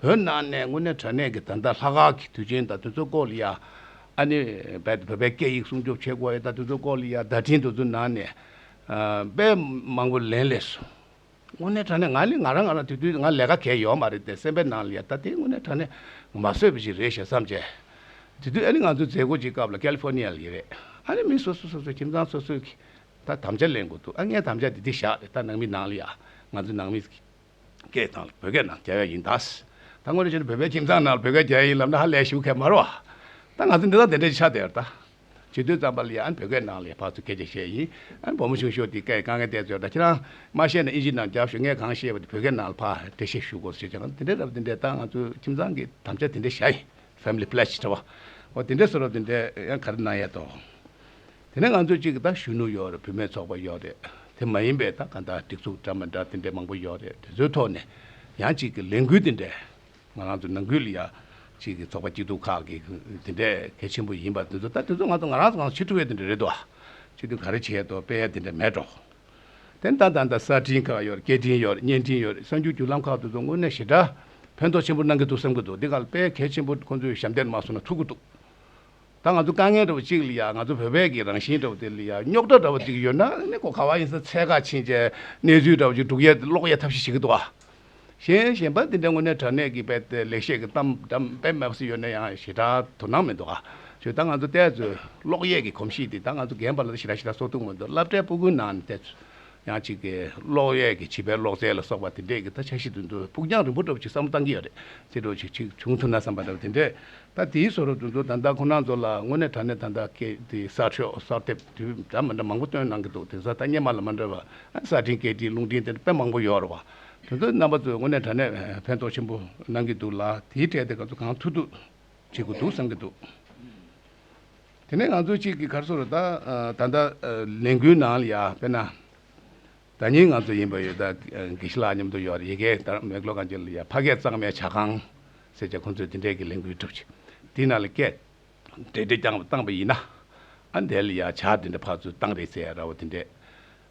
བོད་ནང་ནས་དངོས་གནས་དྲ་གནས་ཀྱི་ད་ལྟ་ལྷ་ཁང་གི་དུས་ཆེན་དང་དུས་ཚོད་བཀོད་ལེ་ཡ། ཨ་ནི། བོད་པའི་སྐད་ཡིག་སྲུང་སྐྱོབ་བྱེད་དགོས་ཡ་ད་དུས་ཚོད་བཀོད་ལེ་ཡ་བརྡ་འཕྲིན་དུ་ཚོད་ནང་ནས། དཔེ་མང་པོ་ལེན་ལེ་སོང། དངོས་གནས་དྲ་གནས་ང་ནི་ང་རང་ང་རང་དུས་དུས་ང་ལས་ཀ་གས་ཡོད་མ་རེད་དེ་སེམས་པའི་ནང་ལེ་ཡ་ད་དེ་དངོས་གནས་དྲ་གནས་མ་བཟོས་པ་ཞིག་རེད་ཞེ་བསམ་བྱས། དུས་དུས་ཨ་ནི་ང་ཚོའི་མཛད་སྒོ་གཅིག་སྐབས་ལ California ལ་ཡི་རེད་ཨ་ནི་མི་སོ་སོ་སོ་སོའི་ཁྱིམ་ཚང་སོ་སོའི་གིས་ད་དམ་བཅའ་ལེན་དགོས་འདུག་ཨ་ངའི་དམ་བཅའ་དེ་དེ་བཞག་རེད་ད་ནང་མི་ནང་ལེ་ཡ་ང་ཚོའི་ནང་མི། སྐད་དང་བོད་སྐད་ནང་རྒྱལ་བས་ཡིན་གདའ། ད་སྔོན་རེ་བྱས་ན་བོད་པའི་ཁྱིམ་ཚང་ནང་བོད་སྐད་རྒྱལ་ཡིན་ལབ་ན་ཧ་ལས་ཞིག་ཁད་མ་རོ། ད་ང་ཚོ་འདི་དང་དེ་འདྲ་ཞིག་ཆགས་བསྡད་ད། བྱིས་དུས་ཙམ་པ་ལ་ཡང་བོད་སྐད་ནང་ལས་ཕར་ཚུར་སྐད་ཆ་བཤད་ཡིན། བུ་མོ་ཆུང་ཤོས་དེ་སྐད་དཀའ་ངལ་བསྡད་ཚོད་ད་ཁྱེད་རང་མ་ཤེས་ན་ཨིན་ཇི་ནང་རྒྱབ་ཞོག་ངས་གང་ཤེས་པ་དེ་བོད་སྐད་ནང་ལ་ཕར་འགྲེལ་བཤད་ཞུ་དགོས་སོ་ཞེས་བྱས་ན་དེ་འདྲ་རབ་དེ་འདྲས་ད་ང་ཚོ་ཁྱིམ་ཚང་གི་དམ་བཅའ་དེ་འདྲས་བཞག་ཡིན། Family Pledge། འདྲ་བ། འོ་དེ་འདྲས་སོ་རབ་དེ་འདྲས་ཡང་ག་རེ་གནང་ཡས་དོ། དེ་ནས་ང་ཚོ་གཅིག་ད་གཞོན་ནུ་ཡོད་རེད་བུད་མེད་ཚོགས་པ་ཡོད་རེད་དེ་མ་ཡིན་པའི་ད་ག་འདྲ་སྒྲིག་འཛུགས་འདྲ་མི་འདྲ་དེ་འདྲའི་མང་པོ་ཡོད་རེད་དེ་ཚོའི་ཐོག་ནས་ཡང་གཅིག་གི་ལས་འགུལ་དེ་འདྲས་ང་རང་ཚོ་ནང་ཁུལ་ཡ་གཅིག་གི་ཚོགས་པ་སྐྱིད་སྡུག་ཁག་གི་དེ་འདྲས་གལ་ཆེན་པོ་ཡིན་པ་དེ་ཚོ་ད་དེ་ཚོ་ང་ཚོ་ང་རང་ཚོ་གང་ཕྱིར་ཁྲུ་བས་དེ་འདྲས་རེད་དོ་ཕྱིར་དུས་ག་རེ་བྱས་དོ་དཔེ་ཡ་དེ་འདྲས་མེད་འགྲོ། དེ་འདྲ་ད་ད་གསར་འཕྲིན་ཁག་ཡོད་རེད་སྐད་འཕྲིན་ཡོད་རེད་བརྙན་འཕྲིན་ཡོད་རེད་གསར་འགྱུར་བརྒྱུད་ལམ་ཁག་དེ་ཚོ་དངོས་གནས་ཞེ་དྲག་ཕན་ཐོག་ཆེན་པོ་གནང་གི་འདུག་བསམ་གི་འདུག་འདི་ག་ལ་དཔེ་གལ་ཆེན་པོ་ཁོང་ཚོས་ཞབས་འདེགས་མ་སོང་ན་ཐུག་གི་འདུག། ད་ང་ཚོ་དཀའ་ངལ་འདྲ་བོ་གཅིག་ལ་ཡང་ང་ཚོ་བོད་པས་ཀྱི་རང་བཞིན་འདྲ་བོ་དེ་ལ་ཡང་རྙོག་དྲ་འདྲ་བོ་དེ་ཡོད་ན་ནི་གོ་ག་བ་ཡིན་ས་ཚད་ཁག་ཕྱིན་ཆད་གནས་ཚུལ་འདྲ་བོ་ཅིག་སྒྲུག་ཡས་དེ་ཀློག་ཡས་ཐབས་ཤེས་བྱེད་ཀྱི་འདུག་ཨ། གཞན་གཞན་པ་འདི་འདྲའི་ངོ་ནས་དྲ་གནས་ཀྱི་དཔེ་དེ་ལེགས་བཤད་ཀྱི་གཏམ་འདྲ་དཔེ་མེད་པ་ཞིག་ཡོད་ན་ཡང་ཞེ་དྲག་དོ་སྣང་མི་འདུག་ཨ། ཞུ་ད་ང་ཚོ་བལྟས་ཚོས་ཀློག་ཡས་ཀྱི་གོམས་གཤིས་དེ་ད་ང་ཚོ་རྒན་པ་ལ་ད་ཞེ་དྲག་ཞེ་དྲག་བཟོ་ཐུབ་མི་འདུག་བསླབ་གྲྭའི་སྤུ་གུང་ནང་ནས་བལྟས་ཚོས་ཡང་གཅིག་གིས་གློག་གཡས་ཀྱི་བྱིས་པའི་གློག་རྫས་ལ་སོགས་པ་དེ་འདྲས་ཀྱི་ད་ཆ་ཤིན་ཏུ་འདུག་ཕུགས་རྒྱང་རིང་པོ་འགྲོ་བ་ཞིག་བསམ་བློ་བཏང་གི་ཡོད་རེད་ཅེས་འགྲོ་བྱེད་ཅིག་བྱུང་ཐུབ་ན་བསམ་པ་འདྲ་བ་དེ་འདྲས་ད་དེའི་བཟོ་རོ་འདུག་མདོར་ད་ལྟ་ཁོ་ནར་འཛོ་ལ་དངོས་གནས་དྲ་གནས་ད་ལྟ་སྐད་དེ་གསར་ཤོག་གསར་དེབ་དེ་འདྲ་མི་འདྲ་མང་པོ་བཏོན་གནང་གི་འདུག་དེང་སང་ཐ་སྙད་མ་ལ་མ་འདྲ་བ་གསར་འཕྲིན་སྐད་འཕྲིན་རླུང་འཕྲིན་དེ་འདྲ་དཔེ་མང་པོ་ཡོད་རེད་བ། དེ་ཚོའི་རྣམ་པ་ཚོས་དངོས་གནས་དྲ་གནས་ཕན་ཐོགས་ཆེན་པོ་གནང་གི་འདུག་ལ་དེའི་གྲས་དེ་ག་ཚོད་གང་ཐུག་ཐུག་བྱེད་དགོས་འདུག་བསམ་གྱི་འདུག། དེ་ནས་ང་ཚོ་གཅིག་གི་གར་སོ་རུ་ད་ལྟ་ལས་འགུལ་ནང་ལ་ཡ་དཔེར་ན། ད་ཉིན་ང་ཚོ་ཡིན་པ་ཡོད་ད་དགེ་བཤེས་ལགས་མཉམ་དུ་ཡོད་ཡི་གེ་དར་མེ་གློག་གང་ཅི་ལ་ཡ་ཕ་སྐད་གཙང་མའི་བྱ་ཁང་ཟེར་བྱ་ཁོང་ཚོས་དེ་འདྲའི་གི་ལས་འགུལ་གྲུབ་ཅིག་དེ་ནང་ལ་སྐད། འབྲེལ་འདྲེ་རྐྱང་བ་བཏང་བ་ཡིན་ན། ཨ་འདས་ལ་ཡ་བྱ་དེ་འདྲ་ཕར་ཚུར་བཏང་རེས་ཟེར་ཡ་ར་བ་དེ་འདྲས།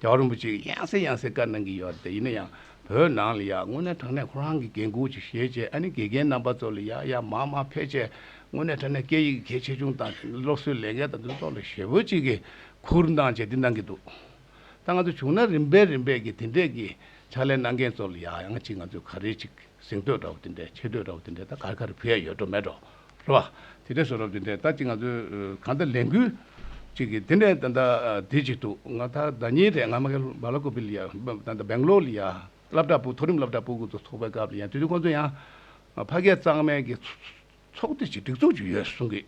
རྒྱ་བ་རིན་པོ་ཆེས་ཡང་སེ་ཡང་སེ་བཀའ་གནང་གི་ཡོད་དེ་ཡིན་ན་ཡང་བོད་ནང་ལ་ཡང་དངོས་གནས་དྲང་གནས་ཁོ་རང་གི་འགན་ཁུར་ཅིག་བཞེས་རྗེས་ཨ་ནི་དགེ་རྒན་རྣམ་པ་ཚོ་ལ་ཡང་ཡང་མང་མང་ཕེབས་རྗེས་དངོས་གནས་དྲང་གནས་སྐད་ཡིག་གི་གལ་ཆེ་ཆུང་དང་སློབ་གསོའི་ལས་འགན་དང་དུས་ཐོག་ལ་ཞེ་བོ་ཅིག་གིས་ཁུར་འདང་བྱས་ཏེ་གནང་གི་འདུག་ད་ང་ཚོ་བྱུང་ན་རིམ་པས་རིམ་པས་ཀྱིས་དེ་འདྲས་ཀྱི་ཕྱག་ལས་གནང་མཁན་ཚོ་ལ་ཡང་ཡང་ཅིག་ང་ཚོས་ག་རེ་ཅིག། གཟེངས་བསྟོད་འདྲ་བོ་དེ་འདྲས་ཆེ་བསྟོད་འདྲ་བོ་དེ་འདྲས་ད་ག་རེ་ག་རེ་ཕུལ་ཡ་ཡོད་འགྲོ་མེད་འགྲོ་རེད་བ། དེ་འདྲས་བཟོ་རབས་དེ་འདྲས་ད་ཅིག་ང་ཚོས་གང་ལྟར་ལས་འགུལ་ཅིག་གིས་དེ་འདྲས་ད་ལྟ་བསྡད་ཅིག་འདུག་ང་ད་ཟླ་གཉིས་རེད་ང་མ་གལ་བ་ལ་ཀོ་པི་ལི་ཡ་ད་ལྟ་སྦེང་ལོར་ལི་ཡ་བསླབ་གྲྭ་སྤུ་མཐོ་རིམ་བསླབ་གྲྭ་སྤུ་གུ་ཚོགས་པའི་སྐབས་ལི་ཡ་དུས་དུས་ཁོང་ཚོ་ཡང་ཕ་སྐད་གཙང་མའི་གི། ཚོགས་སྡེ་གཅིག་སྒྲིག་འཛུགས་གཅིག་ཡོད་གསུང་གི།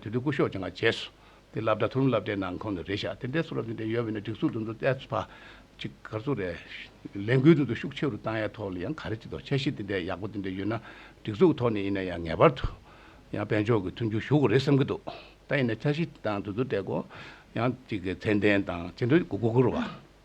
དེ་དུས་སྐུ་ཞོགས་ཀྱང་ང་བྱས་སོ། དེ་ལབ་དྲ་ཐུར་མི་ལབ་དྲའི་ནང་ཁོང་ནི་རེད་བཞག་དེ་འདྲའི་ཚུར་ལབ་དེ་འདྲའི་ཡོད་མེད་ནི་སྒྲིག་འཛུགས་འདི་ཚོ་ཨེ་ཕ། ཅིག་ག་ཚོ་རེད། ལས་འགུལ་འདི་ཚོ་ཤུགས་ཆེ་རུ་བཏང་ཡའི་ཐོག་ལ་ཡང་ག་རེ་བྱེད་དོ་ཆ་ཤེས་དེ་འདྲའི་ཡག་པོ་དེ་འདྲའི་ཡོད་ན་སྒྲིག་འཛུགས་ཐོག་ནས་ཡིན་ན་ཡང་ངེས་པར་དུ། ཡང་དཔལ་འབྱོར་གྱི་མཐུན་འགྱུར་ཞུ་དགོས་རེད་བསམ་གྱི་འདུག་ད་ཡིན་ན་ཆ་ཤེས་དེ་དང་དེ་ཚོ་འདྲའི་སྒོ། ཡང་ཅིག་གི་མཚན་ལྡན་དང་ཅི་འདྲའི་གུ་གུ་གུ་རུ་བ།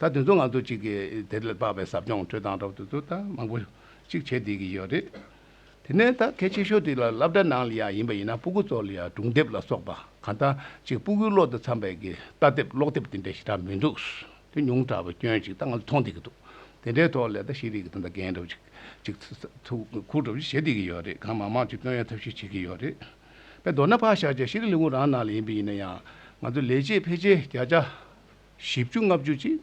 ད་དུས་ཚོད་ང་ཚོ་གཅིག་གིས་དེ་ལ་དཔག་པའི་ཟབ་སྦྱོང་འཕྲོད་སྟངས་རབ་ཏུ་ཏུ་དང་མང་པོ་གཅིག་བྱེད་བསྡད་ཀྱི་ཡོད་རེད། དེ་ནས་ད་གལ་ཆེ་ཤོས་དེ་ལ་བསླབ་གྲྭ་ནང་ལ་ཡང་ཡིན་པ་ཡིན་ན་སྤུ་གུ་ཚོ་ལ་ཡང་སྒྲུང་དེབ་ལ་སོགས་པ་གང་ལྟ་གཅིག་སྤུ་གུའི་བློ་དང་འཚམས་པའི་གི་རྟ་དེབ་ཀློག་དེབ་དེ་འདྲའི་ཞེ་དྲག་མི་འདུག་དེ་ཉུང་དྲག་པའི་སྐྱོན་ཅིག་ད་ང་ཚོ་མཐོང་བསྡད་ཀྱི་འདུག་དེ་འདྲའི་ཐོག་ལས་ད་ཤེས་རིག་གི་དོན་དང་རྒན་རབས་ཅིག་གཅིག་ཐུགས་ཁུར་གྲབས་བྱེད་བསྡད་ཀྱི་ཡོད་རེད་གང་མང་མང་གཅིག་སྟོན་ཡང་ཐབས་ཤེས་བྱེད་ཀྱི་ཡོད་རེད། དཔེ་མདོར་ན་ཕག་ཞག་བཅས་ཤེས་རིག་ལས་ཁུངས་རང་ནང་ལ་ཡིན་པ་ཡིན་ན་ཡང་ང་ཚོ་ལས་བྱེད་ཕལ་ཆེར་བརྒྱ་ཆ་བཞི་བཅུ་ལྔ་བཅུ་གཅིག།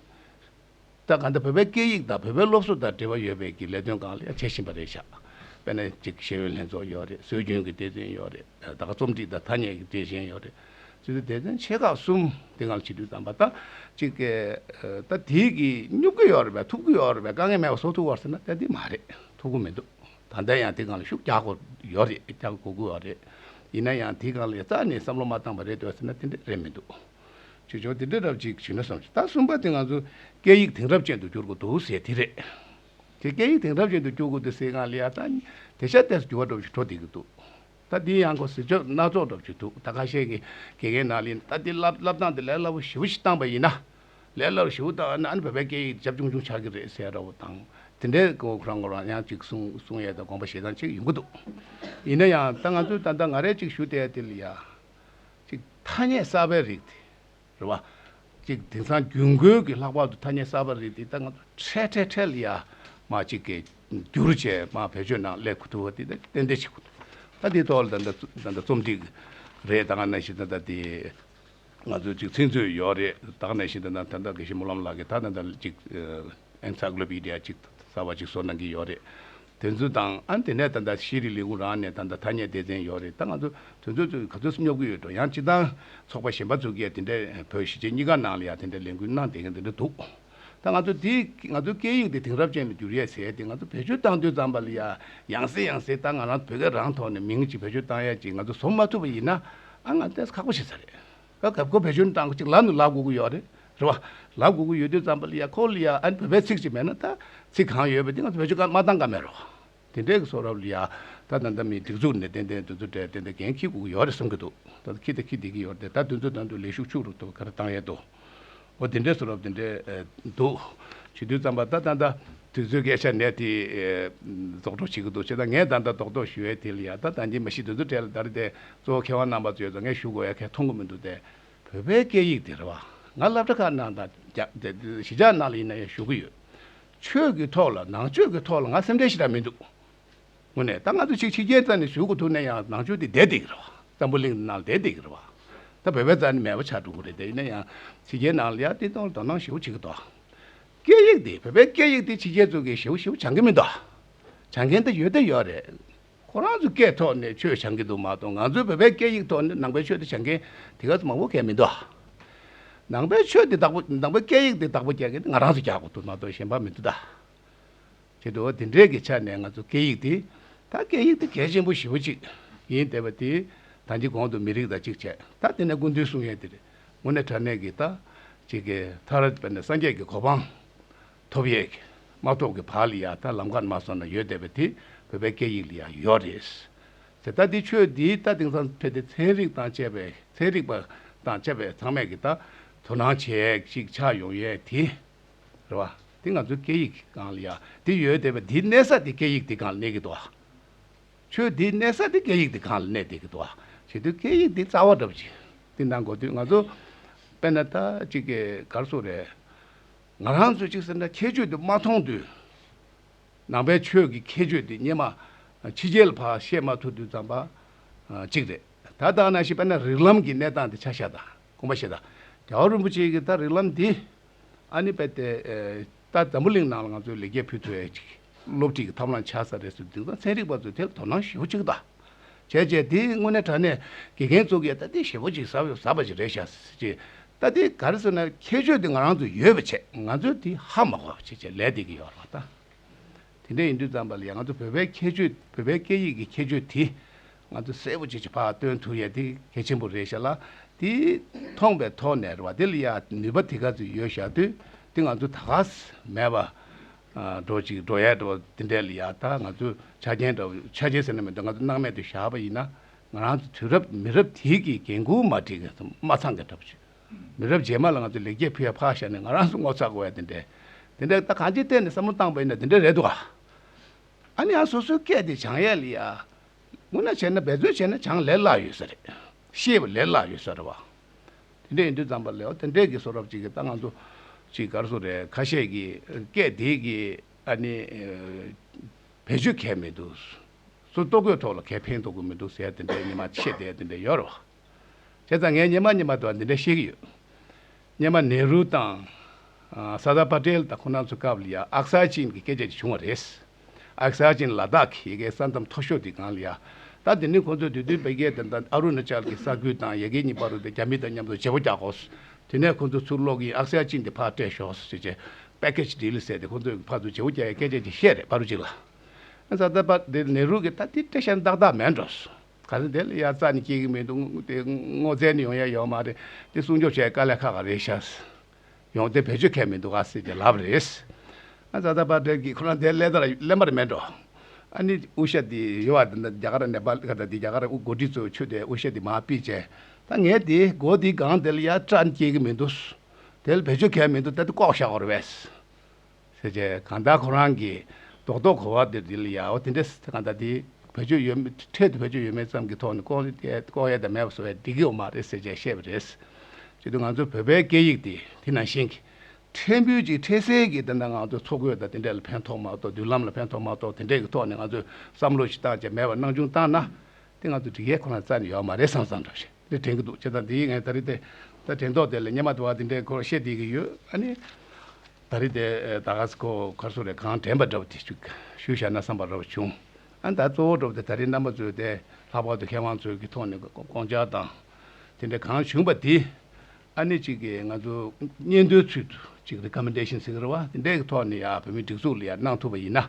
ད་ག་འདི་བོད་པའི་སྐད་ཡིག་དང་བོད་པའི་སློབ་གསོ་དང་འབྲེལ་བ་ཡོད་པའི་གི་ལས་དོན་གང་ལེགས་བྱེད་བཞིན་པ་རེད་ཤག་དཔེར་ན་གཅིག་ཤེས་ཡོན་ལྷན་ཚོགས་ཡོད་རེད་སྲོལ་རྒྱུན་གི་དེ་དོན་ཡོད་རེད་ད་ག་རྩོམ་སྒྲིག་དང་ཐ་སྙད་ཀྱི་དེ་གཞན་ཡོད་རེད་ཚུལ་དུ་དེ་དོན་ཆེ་ཁག་གསུམ་དེ་ངང་ཕྱི་དྲོའི་དམ་པ་ད་གཅིག་གི་ད་དེ་གི་སྙུག་གི་ཡོད་རེད་ཐུབ་གི་ཡོད་རེད་དཀའ་ངལ་མེད་པ་བཟོ་ཐུབ་བར་ཟེར་ན་ད་དེ་མ་རེད་ཐུབ་གི་མི་འདུག་ད་ལྟ་ཡང་དེ་གང་ལ་ཤུགས་རྒྱག་དགོས་ཡོད་རེད་རྒྱག་དགོས་ཀྱི་ཡོད་རེད་ཡིན་ན་ཡང་དེ་གང་ལ་ཡང་རྩ་ནས་བསམ་བློ་མ་བཏང་བ་རེད་འདོད་ཟེར་ན་དེ་འདྲ་རེད་མི་འདུག། ཅེས་བྱུང་དེ་འདྲའི་རབས་ཅིག་བྱུང་ན་བསམ་ཞིང་ད་གསུམ་པ་དེ་ང་ཚོའི་སྐད་ཡིག་དེང་རབས་ཅན་དུ་བསྒྱུར་དགོས་འདུག་ཟེར་དེ་རེད། དེ་སྐད་ཡིག་དེང་རབས་ཅན་དུ་བསྒྱུར་དགོས་འདུག་ཟེར་སྒང་ལི་ཡ་ད་དེ་ཤ་སྟེར་འགྱུར་བ་འགྲོ་བཞིན་འགྲོ་བསྡད་ཀྱི་འདུག་ད་དེའི་ཡང་སྒོ་ཟེར་ཆོག་སྣ་ཚོགས་འགྲོ་བཞིན་འདུག་ད་ཁ་ཤས་ཀྱི་དགེ་རྒན་ནང་ལས་ད་དེ་བསླབ་བསླབ་སྟངས་དེ་ལས་སླ་བོ་ཞིབ་བོ་ཞིག་བཏང་བ་ཡིན་ན། ལས་སླ་བོ་ཞིབ་བོ་བཏང་ན་ཨ་ནི་བོད་པའི་སྐད་ཡིག་རྒྱབ་ཆུང་ཆུང་ཆགས་ཀྱི་རེད་ཟེར་རོགས་དང་དེ་འདྲའི་དགོས་མཁོ་རང་ངོ་རང་ཡང་ཅིག་གསུང་གསུང་ཡས་དང་དགོངས་པ་བཞེས་སྟངས་ཅིག་ཡོང་གི་འདུག་ཡིན་ན་ཡང་ད་ང་ཚོས་ད་ལྟ་ང་རེ་ཅིག་ཞུ་བསྡད་དེ་ལི་ཡ། གཅིག་ཐ་སྙད་གསར་པའི་རིགས་དེ་རེད་བ། གཅིག་དེང་སང་རྒྱུན་གོས་ཀྱི་ལྷག་པར་དུ་ཐ་སྙད་གསར་པ་རིགས་དེ་ད་ང་ཚོ་ཁྲལ་ཁྲལ་ཁྲལ་ཡ་མ་གཅིག་གི་བསྒྱུར་བཅས་མ་བེད་སྤྱོད་ནང་སླེབས་དགོས་ཐུག་བ་དེ་ད་ཏན་ཏན་བྱེད་དགོས་འདུག་ད་འདི་ཐོག་ལ་ད་ལྟ་ད་ལྟ་རྩོམ་སྒྲིག་རེ་ད་ག་ནས་ཤིག་ད་ལྟ་དེ་ང་ཚོའི་གཅིག་ཚིག་མཛོད་ཡོད་རེད་ད་ག་ནས་ཤིག་ད་ད་ད་ད་གེ་ཤི་སྨོན་ལམ་ལགས་ཀྱིས་ད་ད་ད་གཅིག Encyclopedia གཅིག་གསར་པ་གཅིག་བཟོ་གནང་གི་ཡོད་རེད། དེ་ཚོ་དང་ཨ་དེ་ནས་ད་ལྟ་ཤེས་རིག་ལས་ཁུངས་རང་ནས་ད་ལྟ་ཐ་སྙད་སྡེ་ཚན་ཡོད་རེད་ད་ང་ཚོ་དེ་ཚོ་ཚོས་ག་ཚོད་སྙོབ་གི་ཡོད་འགྲོ་ཡང་སྤྱི་བཏང་ཚོགས་པ་གཞན་པ་ཚོ་གིས་དེ་འདྲ་བོད་གཞིས་བྱེས་གཉིས་ཀ་ནང་ལ་ཡང་དེ་འདྲ་ལས་འགུལ་གནང་བསྡད་མཁན་དེ་འདྲ་འདུག་ད་ང་ཚོ་དེ་ང་ཚོའི་སྐད་ཡིག་དེ་དེང་རབས་ཅན་ལ་བསྒྱུར་ཡས་ཟེར་དེ་ང་ཚོ་བེད་སྤྱོད་བཏང་དུས་ཙམ་པ་ལ་ཡ་ཡང་ཟེར་ཡང་ཟེར་ད་ང་རང་བོད་སྐད་རང་ཐོག་ནས་མིང་གཅིག་བེད་སྤྱོད་བཏང་ཡས་གཅིག་ང་ཚོ་བཟོ་མ་ཐུབ་པ་ཡིན་ན་ཨ་ང་ལྟས་ཁག་པོ་བྱེད་ས་རེད། ཁ་གབ་གོ་བེད་སྤྱོད་སྟངས་གཅིག་ལམ་ནས་ལག་འགུག་གི་ཡོད་རེད་རེད་བ། ལག་འགུག་གི་ཡོད་དུས་ཙམ་པ་ལི་ཡ་ཁོ་ལི་ཡ་ཨན་བོད་པའི་ཚིག་ཅིག་མེད་ན་ད། ཚིག་གང་ཡོད་པ་དེ་ང་ཚོ་བེད་སྤྱོད་ཀ་མ་བཏང་ཀ་མེད་རེད་བ། དེ་འདྲའི་གི་སོགས་རབ་ལི་ཡ་ད་ད་ད་མི་སྒྲིག་འཛུགས་ནས་ཏན་ཏན་དུ་འཛུགས་གྲས་ཏན་ཏན་གན་ཁིས་འགུག་གི་ཡོད་རེད་གསུང་གི་འདུག་ད་ད་ཁིས་ད་ཁིས་བསྡད་ཀི་ཡོད་རེད་ད་དུས་ཚོད་དང་དུ་ལས་ཤུགས་ཕྱུག་རུ་ཐུབ་པ་ག་རེ་བཏང་ཡས་འདུག་འོ་དེ་འདྲས་སུ་རོ་དེ་འདྲས་འདུག། བྱིས་དུས་རྩམ་པ་ད་ད་ད་དུས་ཚོད་སྐད་ཆ་ནད་དེ་རྫོགས་གྲོགས་བྱེད་ཀྱི་འདུག་ཅེས་ད་ངས་ད་ད་དོག་དོག་ཞུ་བས་དེ་ལ་ཡར་ད་ད་འགྱིན་མ་ཤི་དུས་ཚོད་སྤྲད་ལ་ད་རེ་ད་གཙོ་བོ་མཁས་དབང་རྣམ་པ་ཚོས་ད་ངས་ཞུ་དགོས་ཡ་གས་མཐོང་གི་མི་འདུག་སྟེ། བོད་པའི་སྐད་ཡིག་དེ་རེད་བ། ང་སླབ་གྲ་ཁག་ནང་དང། གཞིས་ཆགས་ནང་ལ་ཡིན་ན་ཡང་ཞུ་གི་ཡོད། ཆོས་ཀྱི་ཐོག་ལ་ནང་ཆོས་ཀྱི་ཐོག་ལ་ང་སེམས་ཁྲལ་ཞིག་ད་མི་འདུག། ངོས་ནས་ད་ང་ཚོ་ཕྱི་རྒྱལ་རྩ་ནས་ཞུ་དགོས་ཐུག་ན་ཡང་ནང་ཆོས་དེ་བསྡད་འདུག་གི་རེད་བ། བཙན་པོ་གླིང་ནང་བསྡད་འདུག་གི་རེད་བ། ད་བོད་པའི་རྩ་ནས་མེད་པ་ཆགས་འགྲོ་གི་རེད་དེ་ཡིན་ན་ཡང་ཕྱི་རྒྱལ་ནང་ལ་ཡང་བསྟན་དོན་ལ་དོ་སྣང་ཞེ་བོ་བྱེད་ཀྱི་འདུག་ག། སྐད་ཡིག་དེ་བོད་པའི་སྐད་ཡིག་དེ་ཕྱི་རྒྱལ་ཚོ་གིས་ཞེ་བོ་ཞེ་བོ་བྱང་གི་མི་འདུག་ག། བྱང་མཁན་དེ་ཡོད་དེ་ཡོད་རེད། ཁོ་རང་ཚོའི་སྐད་ཐོག་ནས་ཆོས་བྱང་གི་འདུག་མ་གཏོགས་ང་ཚོའི་བོད་པའི་སྐད་ཡིག་ཐོག་ནས་ནང་པའི་ཆོས་དེ་བྱང་མཁན་དེ་ག་ཚོད་མང་བོ་ག་མི་འདུག་ག། ནང་པའི་ཆོས་དེ་བདག་པོ་ནང་པའི་སྐད་ཡིག་དེ་བདག་པོ་རྒྱག་མཁན་དེ་ང་རང་ཚོ་རྒྱག་དགོས་འདུག་མ་གཏོགས་གཞན་པ་མི་འདུག་ག། ཁྱེད་དང་འདི་འདྲའི་གི་ཆ་ནས་ང་ཚོ་སྐད་ཡིག་འདི། ད་སྐད་ཡིག་འདི་གལ་ཆེན་པོ་ཞེ་བོ་ཅིག་ཡིན་དེ་བ་དེ། ད་འདི་གོང་དུ་མི་རིགས་དང་ཅིག་བྱས་ད་དེ་ནས་སྐུ་མདུན་གསུང་ཡས་འདིར་ངོ་ནས་དྲ་གནས་གི་ད། ཅིག་གི་མཐར་བས་ན་སངས་རྒྱས་ཀྱི་གོ་འཕང། ཐོབ་ཡས་ཀྱི་མ་ཐོབ་ཀྱི་བར་ལ་ཡང་ད་ལམ་ཁར་མ་སོང་ན་ཡོད་དེ་བ་དེ་བོད་པའི་སྐད་ཡིག་ལ་ཡང་ཡོད་རེད། ཟེར་ད་འདི་ཆོས་འདི་ད་དེང་སང་ཕལ་ཏེ་ཚན་རིག་དང་བཅས་པའི་ཚན་རིག་པ་དང་བཅས་པས་ཚང་མས་གི་ད་དོ་སྣང་བྱས་ཡས་ཅིག་ཆགས་ཡོང་ཡས་དེ། རེད་བ། དེ་ང་ཚོའི་སྐད་ཡིག་གི་སྒང་ལ་ཡ་དེ་ཡོད་དེ་བ་དེའི་གནད་ས་དེ་སྐད་ཡིག་དེ་སྒང་ལ་གནས་གི་འདུག་བ། ཆོས་དེའི་གནད་ས་དེ་སྐད་ཡིག་དེ་སྒང་ལ་གནས་བསྡད་གི་འདུག་བ། བྱེད་དུས་སྐད་ཡིག་དེ་རྩ་བ་འགྲུབ་ཅིག་དེ་གནང་དགོས་དུས་ང་ཚོ་དཔེར་ན་ད་ཅིག་གི་གར་སོང་རེད། ང་རང་ཚོས་ཅིག་ཟེར་ན་ཁྱད་ཆོས་དེ་མ་མཐོང་དུས། ནང་པའི་ཆོས་ཀྱི་ཁྱད་ཆོས་དེ་རྙེད་མ། ཕྱི་རྒྱལ་བར་ཤེས་མ་ཐུབ་དུས་ཙམ་པ། ཅིག་རེད། ད་ལྟ་ན་ཞིག་དཔེར་ན་རིགས་ལམ་གྱི་གནས་སྟངས་དེ་ཆ་ཤས་དང། སྐུ་འབའ་ཞིག་དང། རྒྱལ་བ་རིན་པོ་ཆེ་ཀྱི་ད་རིགས་ལམ་འདི། ཨ་ནི་པད་ཏའི། ད་འཛམ་བུ་གླིང་ནང་ལ་ང་ཚོའི་ལེགས་སྐྱེས་ཕུལ་ཐུབ་ཡས་ཅིག། སློབ་ཁྲིད་ཀྱི་ཐབས་ལམ་ཆགས་ས་རེད་ཟེར་དུས་ད་ཚན་རིག་པ་ཚོས་དེར་དོ་སྣང་ཞེ་བོ་ཅིག་དང། བྱས་རྗེས་དེ་དངོས་གནས་དྲ་གནས་དགེ་རྒན་ཚོ་གིས་ད་དེ་ཞེ་བོ་ཅིག་ཟབ་པ་ཞིག་རེད་ཤག་ཅེས། ད་དེ་ག་རེ་ཟེར་ན་ཁྱད་ཆོས་དེ་ང་རང་ཚོ་ཡོད་པའི་ཆེད་ང་ཚོས་དེ་ཧ་མ་གོ་བ་བྱེད་ཆེད་ལས་འདི་གི་ཡོ་རང་དང། དེ་འདྲ་ཡིན་དུས་ཙམ་པ་ལ་ཡང་ང་ཚོ་བོད་པའི་ཁྱད་ཆོས་བོད་པའི་སྐད་ཡིག་གི་ཁྱད་ཆོས་དེ། ང་ཚོ་གསལ་པོ་ཇི་ཆེ་བར་སྟོན་ཐུབ་ཡས་དེ་གལ་ཆེན་པོ་རེད་ཤག་ལ། དེ་མཐོང་པའི་ཐོག་ནས་རེད་བ་དེ་ལ་ཡ་ནུས་པ་དེ་ག་ཚོད་ཡོད་ཤག་དུས་དེ་ང་ཚོ་ད་ག་ཟེ་མེད་པ། འགྲོ་ཅིག་འགྲོ་ཡས་འགྲོ་དེ་འདྲས་ལ་ཡ་ད་ང་ཚོ་ཆ་རྐྱེན་འདྲ་བོ་ཆ་རྐྱེན་ཟེར་ན་མི་འདུག་ང་ཚོ་སྣང་མེད་དུ་བཞག་པ་ཡིན་ན། ང་རང་ཚོ་དུས་རབས་མི་རབས་དེ་གི་འགན་ཁུར་མ་འགྲིག་མ་ཚང་གི་འདྲ་བོ་ཞིག། མི་རབས་རྗེས་མ་ལ་ང་ཚོས་ལེགས་སྐྱེས་ཕུལ་ཡ་ཕག་ཞག་ནས་ང་རང་སུ་ངོ་ཚ་དགོས་ཡ་དེ་འདྲས། དེ་འདྲས་ད་གང་ཅིའི་ཐད་ནས་བསམ་བློ་བཏང་པ་ཡིན་ན་དེ་འདྲས་རེད་འདུག་ཨ། ཨ་ནི་ཡང་སོ་སོའི་སྐད་དེ་བྱང་ཡ་ལི་ཡ། སྔོན་ན་བྱས་ན་འབད་བརྩོན་བྱས་ན་བྱང་ལས་སླ་ཡོད་ས་རེད། ཤེས་པ་ལས་སླ་ཡོད་ས་རེད་བ། དེ་འདྲས་ཡིན་དུས་ཙམ་པ་ལས་ཨོ་དེ་འདྲས་ཀྱི་སོ་རབ་ཅིག་གིས་ད་ང་ཚོ་ཅིག་དགར་སོ་རེད་ཁ་ཤས་ཀྱི་སྐད་དེ་གིས་ཨ་ནི། བེད་སྤྱོད་གལ་མི་འདུག། སོ་ལྟོ་གོས་ཐོག་ལ་གལ་ཕན་ཐོག་གི་མི་འདུག་ཟེར་ཡ་དེ་འདྲས་ཉི་མ་ཕྱེད་དེ་ཡ་དེ་འདྲས་ཡོད་རེད་བ། དེ་དང་ངའི་གཉེན་མ་གཉིས་མ་དང་འདི་འདྲ་བཤད་ཀྱི་ཡོད། གཉེན་མ་ནེ་རུ་དང། སར་དར་པ་ཏེལ་དང་ཁོ་རྣམས་ཚོའི་སྐབས་ལ་ཡང་ཨག་སར་ཅིན་གྱི་སྐད་ཆ་དེ་བྱུང་བ་རེད། ཨག་སར་ཅིན་ལ་དྭགས་ཀྱི་ཡི་གེའི་ས་མཚམས་མཐོ་ཤོས་དེ་གང་ལ་ཡ། ད་དེ་ནི་ཁོ་ཚོས་དུས་བསྟུན་བལ་རྒྱལ་དང་ཨ་རུ་ནཱ་ཅལ་གྱི་ས་ཁུལ་དང་ཡ་གི་གཉིས་པ་རུ་དེ་རྒྱ་མི་དང་མཉམ་དུ་བྱེད་པོ་རྒྱག་དགོས། དེ་ནས་ཁོ་ཚོ་ཚུར་ལོག་གིན་ཨག་སར་ཅིན་དེ་ཕར་སྤྲད་ཤོག་ཟེར་ཅེས Package Deal ཟེར་ཏེ་ཁོ་ཚོས་ཕར་དུ་བྱེད་པོ་རྒྱག་ཡའི་སྐད་ཆ་དེ་བཤད་རེད་པཱ་རུ་ཅིག་ལ། སར་དར་པ་ཏེལ་ནེ་རུ་གིས་ད་དེ་འདྲ་ཤ་མདག་མདག་མེད་འགྲོ་སོང། ག་ཚོད་དེ་ལ་ཡ་རྩ་ནས་སྐྱེ་གི་མི་འདུག་དེ་སྔོ་ཚལ་ནས་ཡོང་ཡ་ཡོད་མ་རེད་དེ་སྲུང་སྐྱོབ་བྱས་དཀའ་ལས་ཁག་ག་རེ་ཤ་ཡོང་དེ་བེད་སྤྱོད་མཁན་མི་འདུག་ག་སྲིད་ཀྱི་ལབ་རེད། ཨ་བཟའ་ཟླ་བ་བཀྲས་ཀྱིས་ཁོ་རང་དེ་ལས་དར་གླེན་པར་མེད་འགྲོ། ཨ་ནི་དབུ་ཞྭ་དེ་ཡོད་བ་དེ་འདྲ་རྒྱ་གར་ནས་པ་ལི་ཁ་ད་དེ་རྒྱ་གར་མགོ་འཁྲིད་ཚོས་ཆུ་དེ་དབུ་ཞྭ་དེ་མ་སྤིས་བྱས་ད་ངས་དེ་སྒོ་དེའི་སྒང་དེ་ལ་ཡ་རྩ་ནས་སྐྱེ་གི་མི་འདུག་དེ་ལ་བེད་སྤྱོད་མཁན་མི་འདུག་ད་དེ་ལྐོག་བཞག་བར་བས། ཟེར་བྱས་གང་ལྟར་ཁོ་རང་གིས་རྡོག་རྡོག་གོ་བ་དེ་དེ་ལ་ཡག་དེ་འདྲས་གང་ལྟར་དེ་བེད་སྤྱོད་ཡོད་མེད་འཕྲལ་དུ་བེད་སྤྱོད་ཡོད་མེད་ཙམ་གྱི་ཐོག་ནས་ལྐོག་ཡས་ལྐོག་ཡས་དང་མེད་པ་བཟོ་བའི་བདེ་སྐྱིད་འོག་མ་རེད་ཟེར་བྱས་བཤད་པ་རེད། བྱས་དུས་ང་ཚོ་བོད་པའི་སྐད་ཡིག་དེ་དེ་ནང་བཞིན་གྱི་ཕྲན་བུ་ཅིག་འཕྲལ་སེལ་གྱིས་དེ་འདྲ་ང་ཚོ་འཚོ་གོས་དང་དེ་འདྲས་ལ་ཕན་ཐོག་མ་གཏོགས་མདུན་ལམ་ལ་ཕན་ཐོག་མ་གཏོགས་དེ་འདྲས་ཀྱི་ཐོག་ནས་ང་ཚོས་བསམ་བློ་ཞིག་བཏང་བྱས་མེད་པར་སྣང་ཆུང་བཏང་ན་དེ་ང་ཚོ་འགྲིག་ཡས་ཁོ་ན་རྩ་ནས་ཡོག་མ་རེད་བསམ་བསམ་འདྲ་བྱས། འདི་དྲན་གྱི་འདུག་ཅེས་དང་འདི་ཡིག་ངས་ད་རེས་དེ་ལྟར་དྲན་ཐོག་དེ་ལས་སྙན་མ་དེ་བ་འདི་འདྲའི་སྐོར་བཤད་བསྡད་ཀྱི་ཡོད་ཨ་ནི། ད་རེས་དེ་ད་ག་ས་ཁོ་གར་སོང་རེད་གང་དྲན་པ་འདྲ་བོ་དེ་ཞུ་ཞུ་བཞག་ན་བསམ་པ་འདྲ་བོ་བྱུང་ཨ་ད་གཙོ་བོ་འགྲོ་བ་དེ་ད་རེས་རྣམ་པ་ཚོས་དེ་ལྷག་པར་དུ་མཁས་དབང་ཚོའི་གི་ཐོག་ནས་དགོངས་འཆར་དང། དེ་འདྲ་གང་བྱུང་བ་དེ་ཨ་ནི་གཅིག་གིས་ང་ཚོ་སྙན་ཐོའི་ཚུལ་དུ་གཅིག Recommendation ཟེར་གི་རེད་བ་དེ་འདྲའི་གི་ཐོག་ནས་ཡང་བོད་མིའི་སྒྲིག་འཛུགས་ལ་ཡང་གནང་ཐུབ་པ་ཡིན་ན་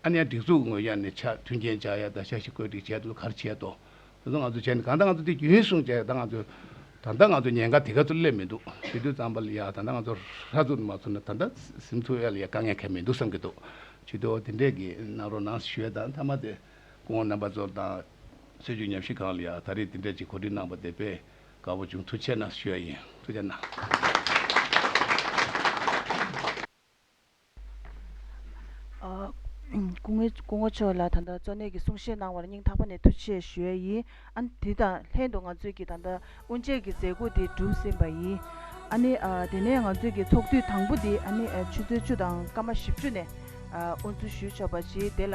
ཨ་ནི་ཡང་སྒྲིག་འཛུགས་ངོས་ཀྱང་ནས་ཆ་མཐུན་རྐྱེན་བྱ་ཡ་ད་ཆ་ཞིག་བཀོད་སྒྲིག་བྱས་འདུག་གར་བྱས་ཏོ། ད་དུང་ང་ཚོ་བྱས་ནས་གང་ལྟར་ང་ཚོ་དེ་རྒྱུན་སྲུང་བྱས་ད་ང་ཚོ། ད་ལྟ་ང་ཚོ་ཉེན་ཁ་དེ་ག་ཚོད་སླེབས་མི་འདུག་ཞེ་དུས་ཙམ་པ་ལ་ཡང་ད་ལྟ་ང་ཚོ་ཧྲ་ཚུར་དུ་མ་ཚུར་ན་ད་ལྟ་སིམ་འཚོལ་བ་ལ་ཡང་དཀའ་ངལ་ཁག་མི་འདུག་བསམ་གྱི་འདུག་ཞེ་དུས་འོ་དེ་འདྲས་ཀྱི་གནང་རོགས་གནང་ཞེས་ཞུས་བ་དང་མཐའ་མ་དེ་སྐུ་ངོ་རྣམ་པ་ཚོ་དང། སྲོལ་རྒྱུན་ཉམས་ཞིབ་ཁང་ལ་ཡང་ད་རེས་དེ་འདྲས་ཀྱི་གོ་སྒྲིག་གནང་བ་དེ་དཔེ་དཀའ་བོ་བྱུང་ཐུགས་ཆེ་གནང་ཞུས་བ་ཡིན་ཐུགས་ཆེ་གནང། སྐུ་ངོ་མཆོག་ལ་ད་ལྟ་གཙོ་གནད་ཀྱི་གསུང་བཤད་གནང་བར་སྙིང་ཐག་པ་ནས་ཐུགས་ཆེ་ཞུ་ཡ་ཡིན། ཨ་ནི་དེ་དང་ལྷན་དུ་ང་ཚོས་ཀྱིས་ད་ལྟ་དབུ་འབྱེད་ཀྱི་མཛད་སྒོ་དེ་གྲུབ་ཟིན་པ་ཡིན། ཨ་ནི་དེ་ནས་ང་ཚོས་ཀྱིས་ཚོགས་དུས་དང་པོ་དེ་ཨ་ནི་ཆུ་ཚོད་བཅུ་དང་སྐར་མ་བཞི་བཅུ་ནས་དབུ་འཛུགས་ཞུས་ཆོག་པ་བྱས་དེ་ལ།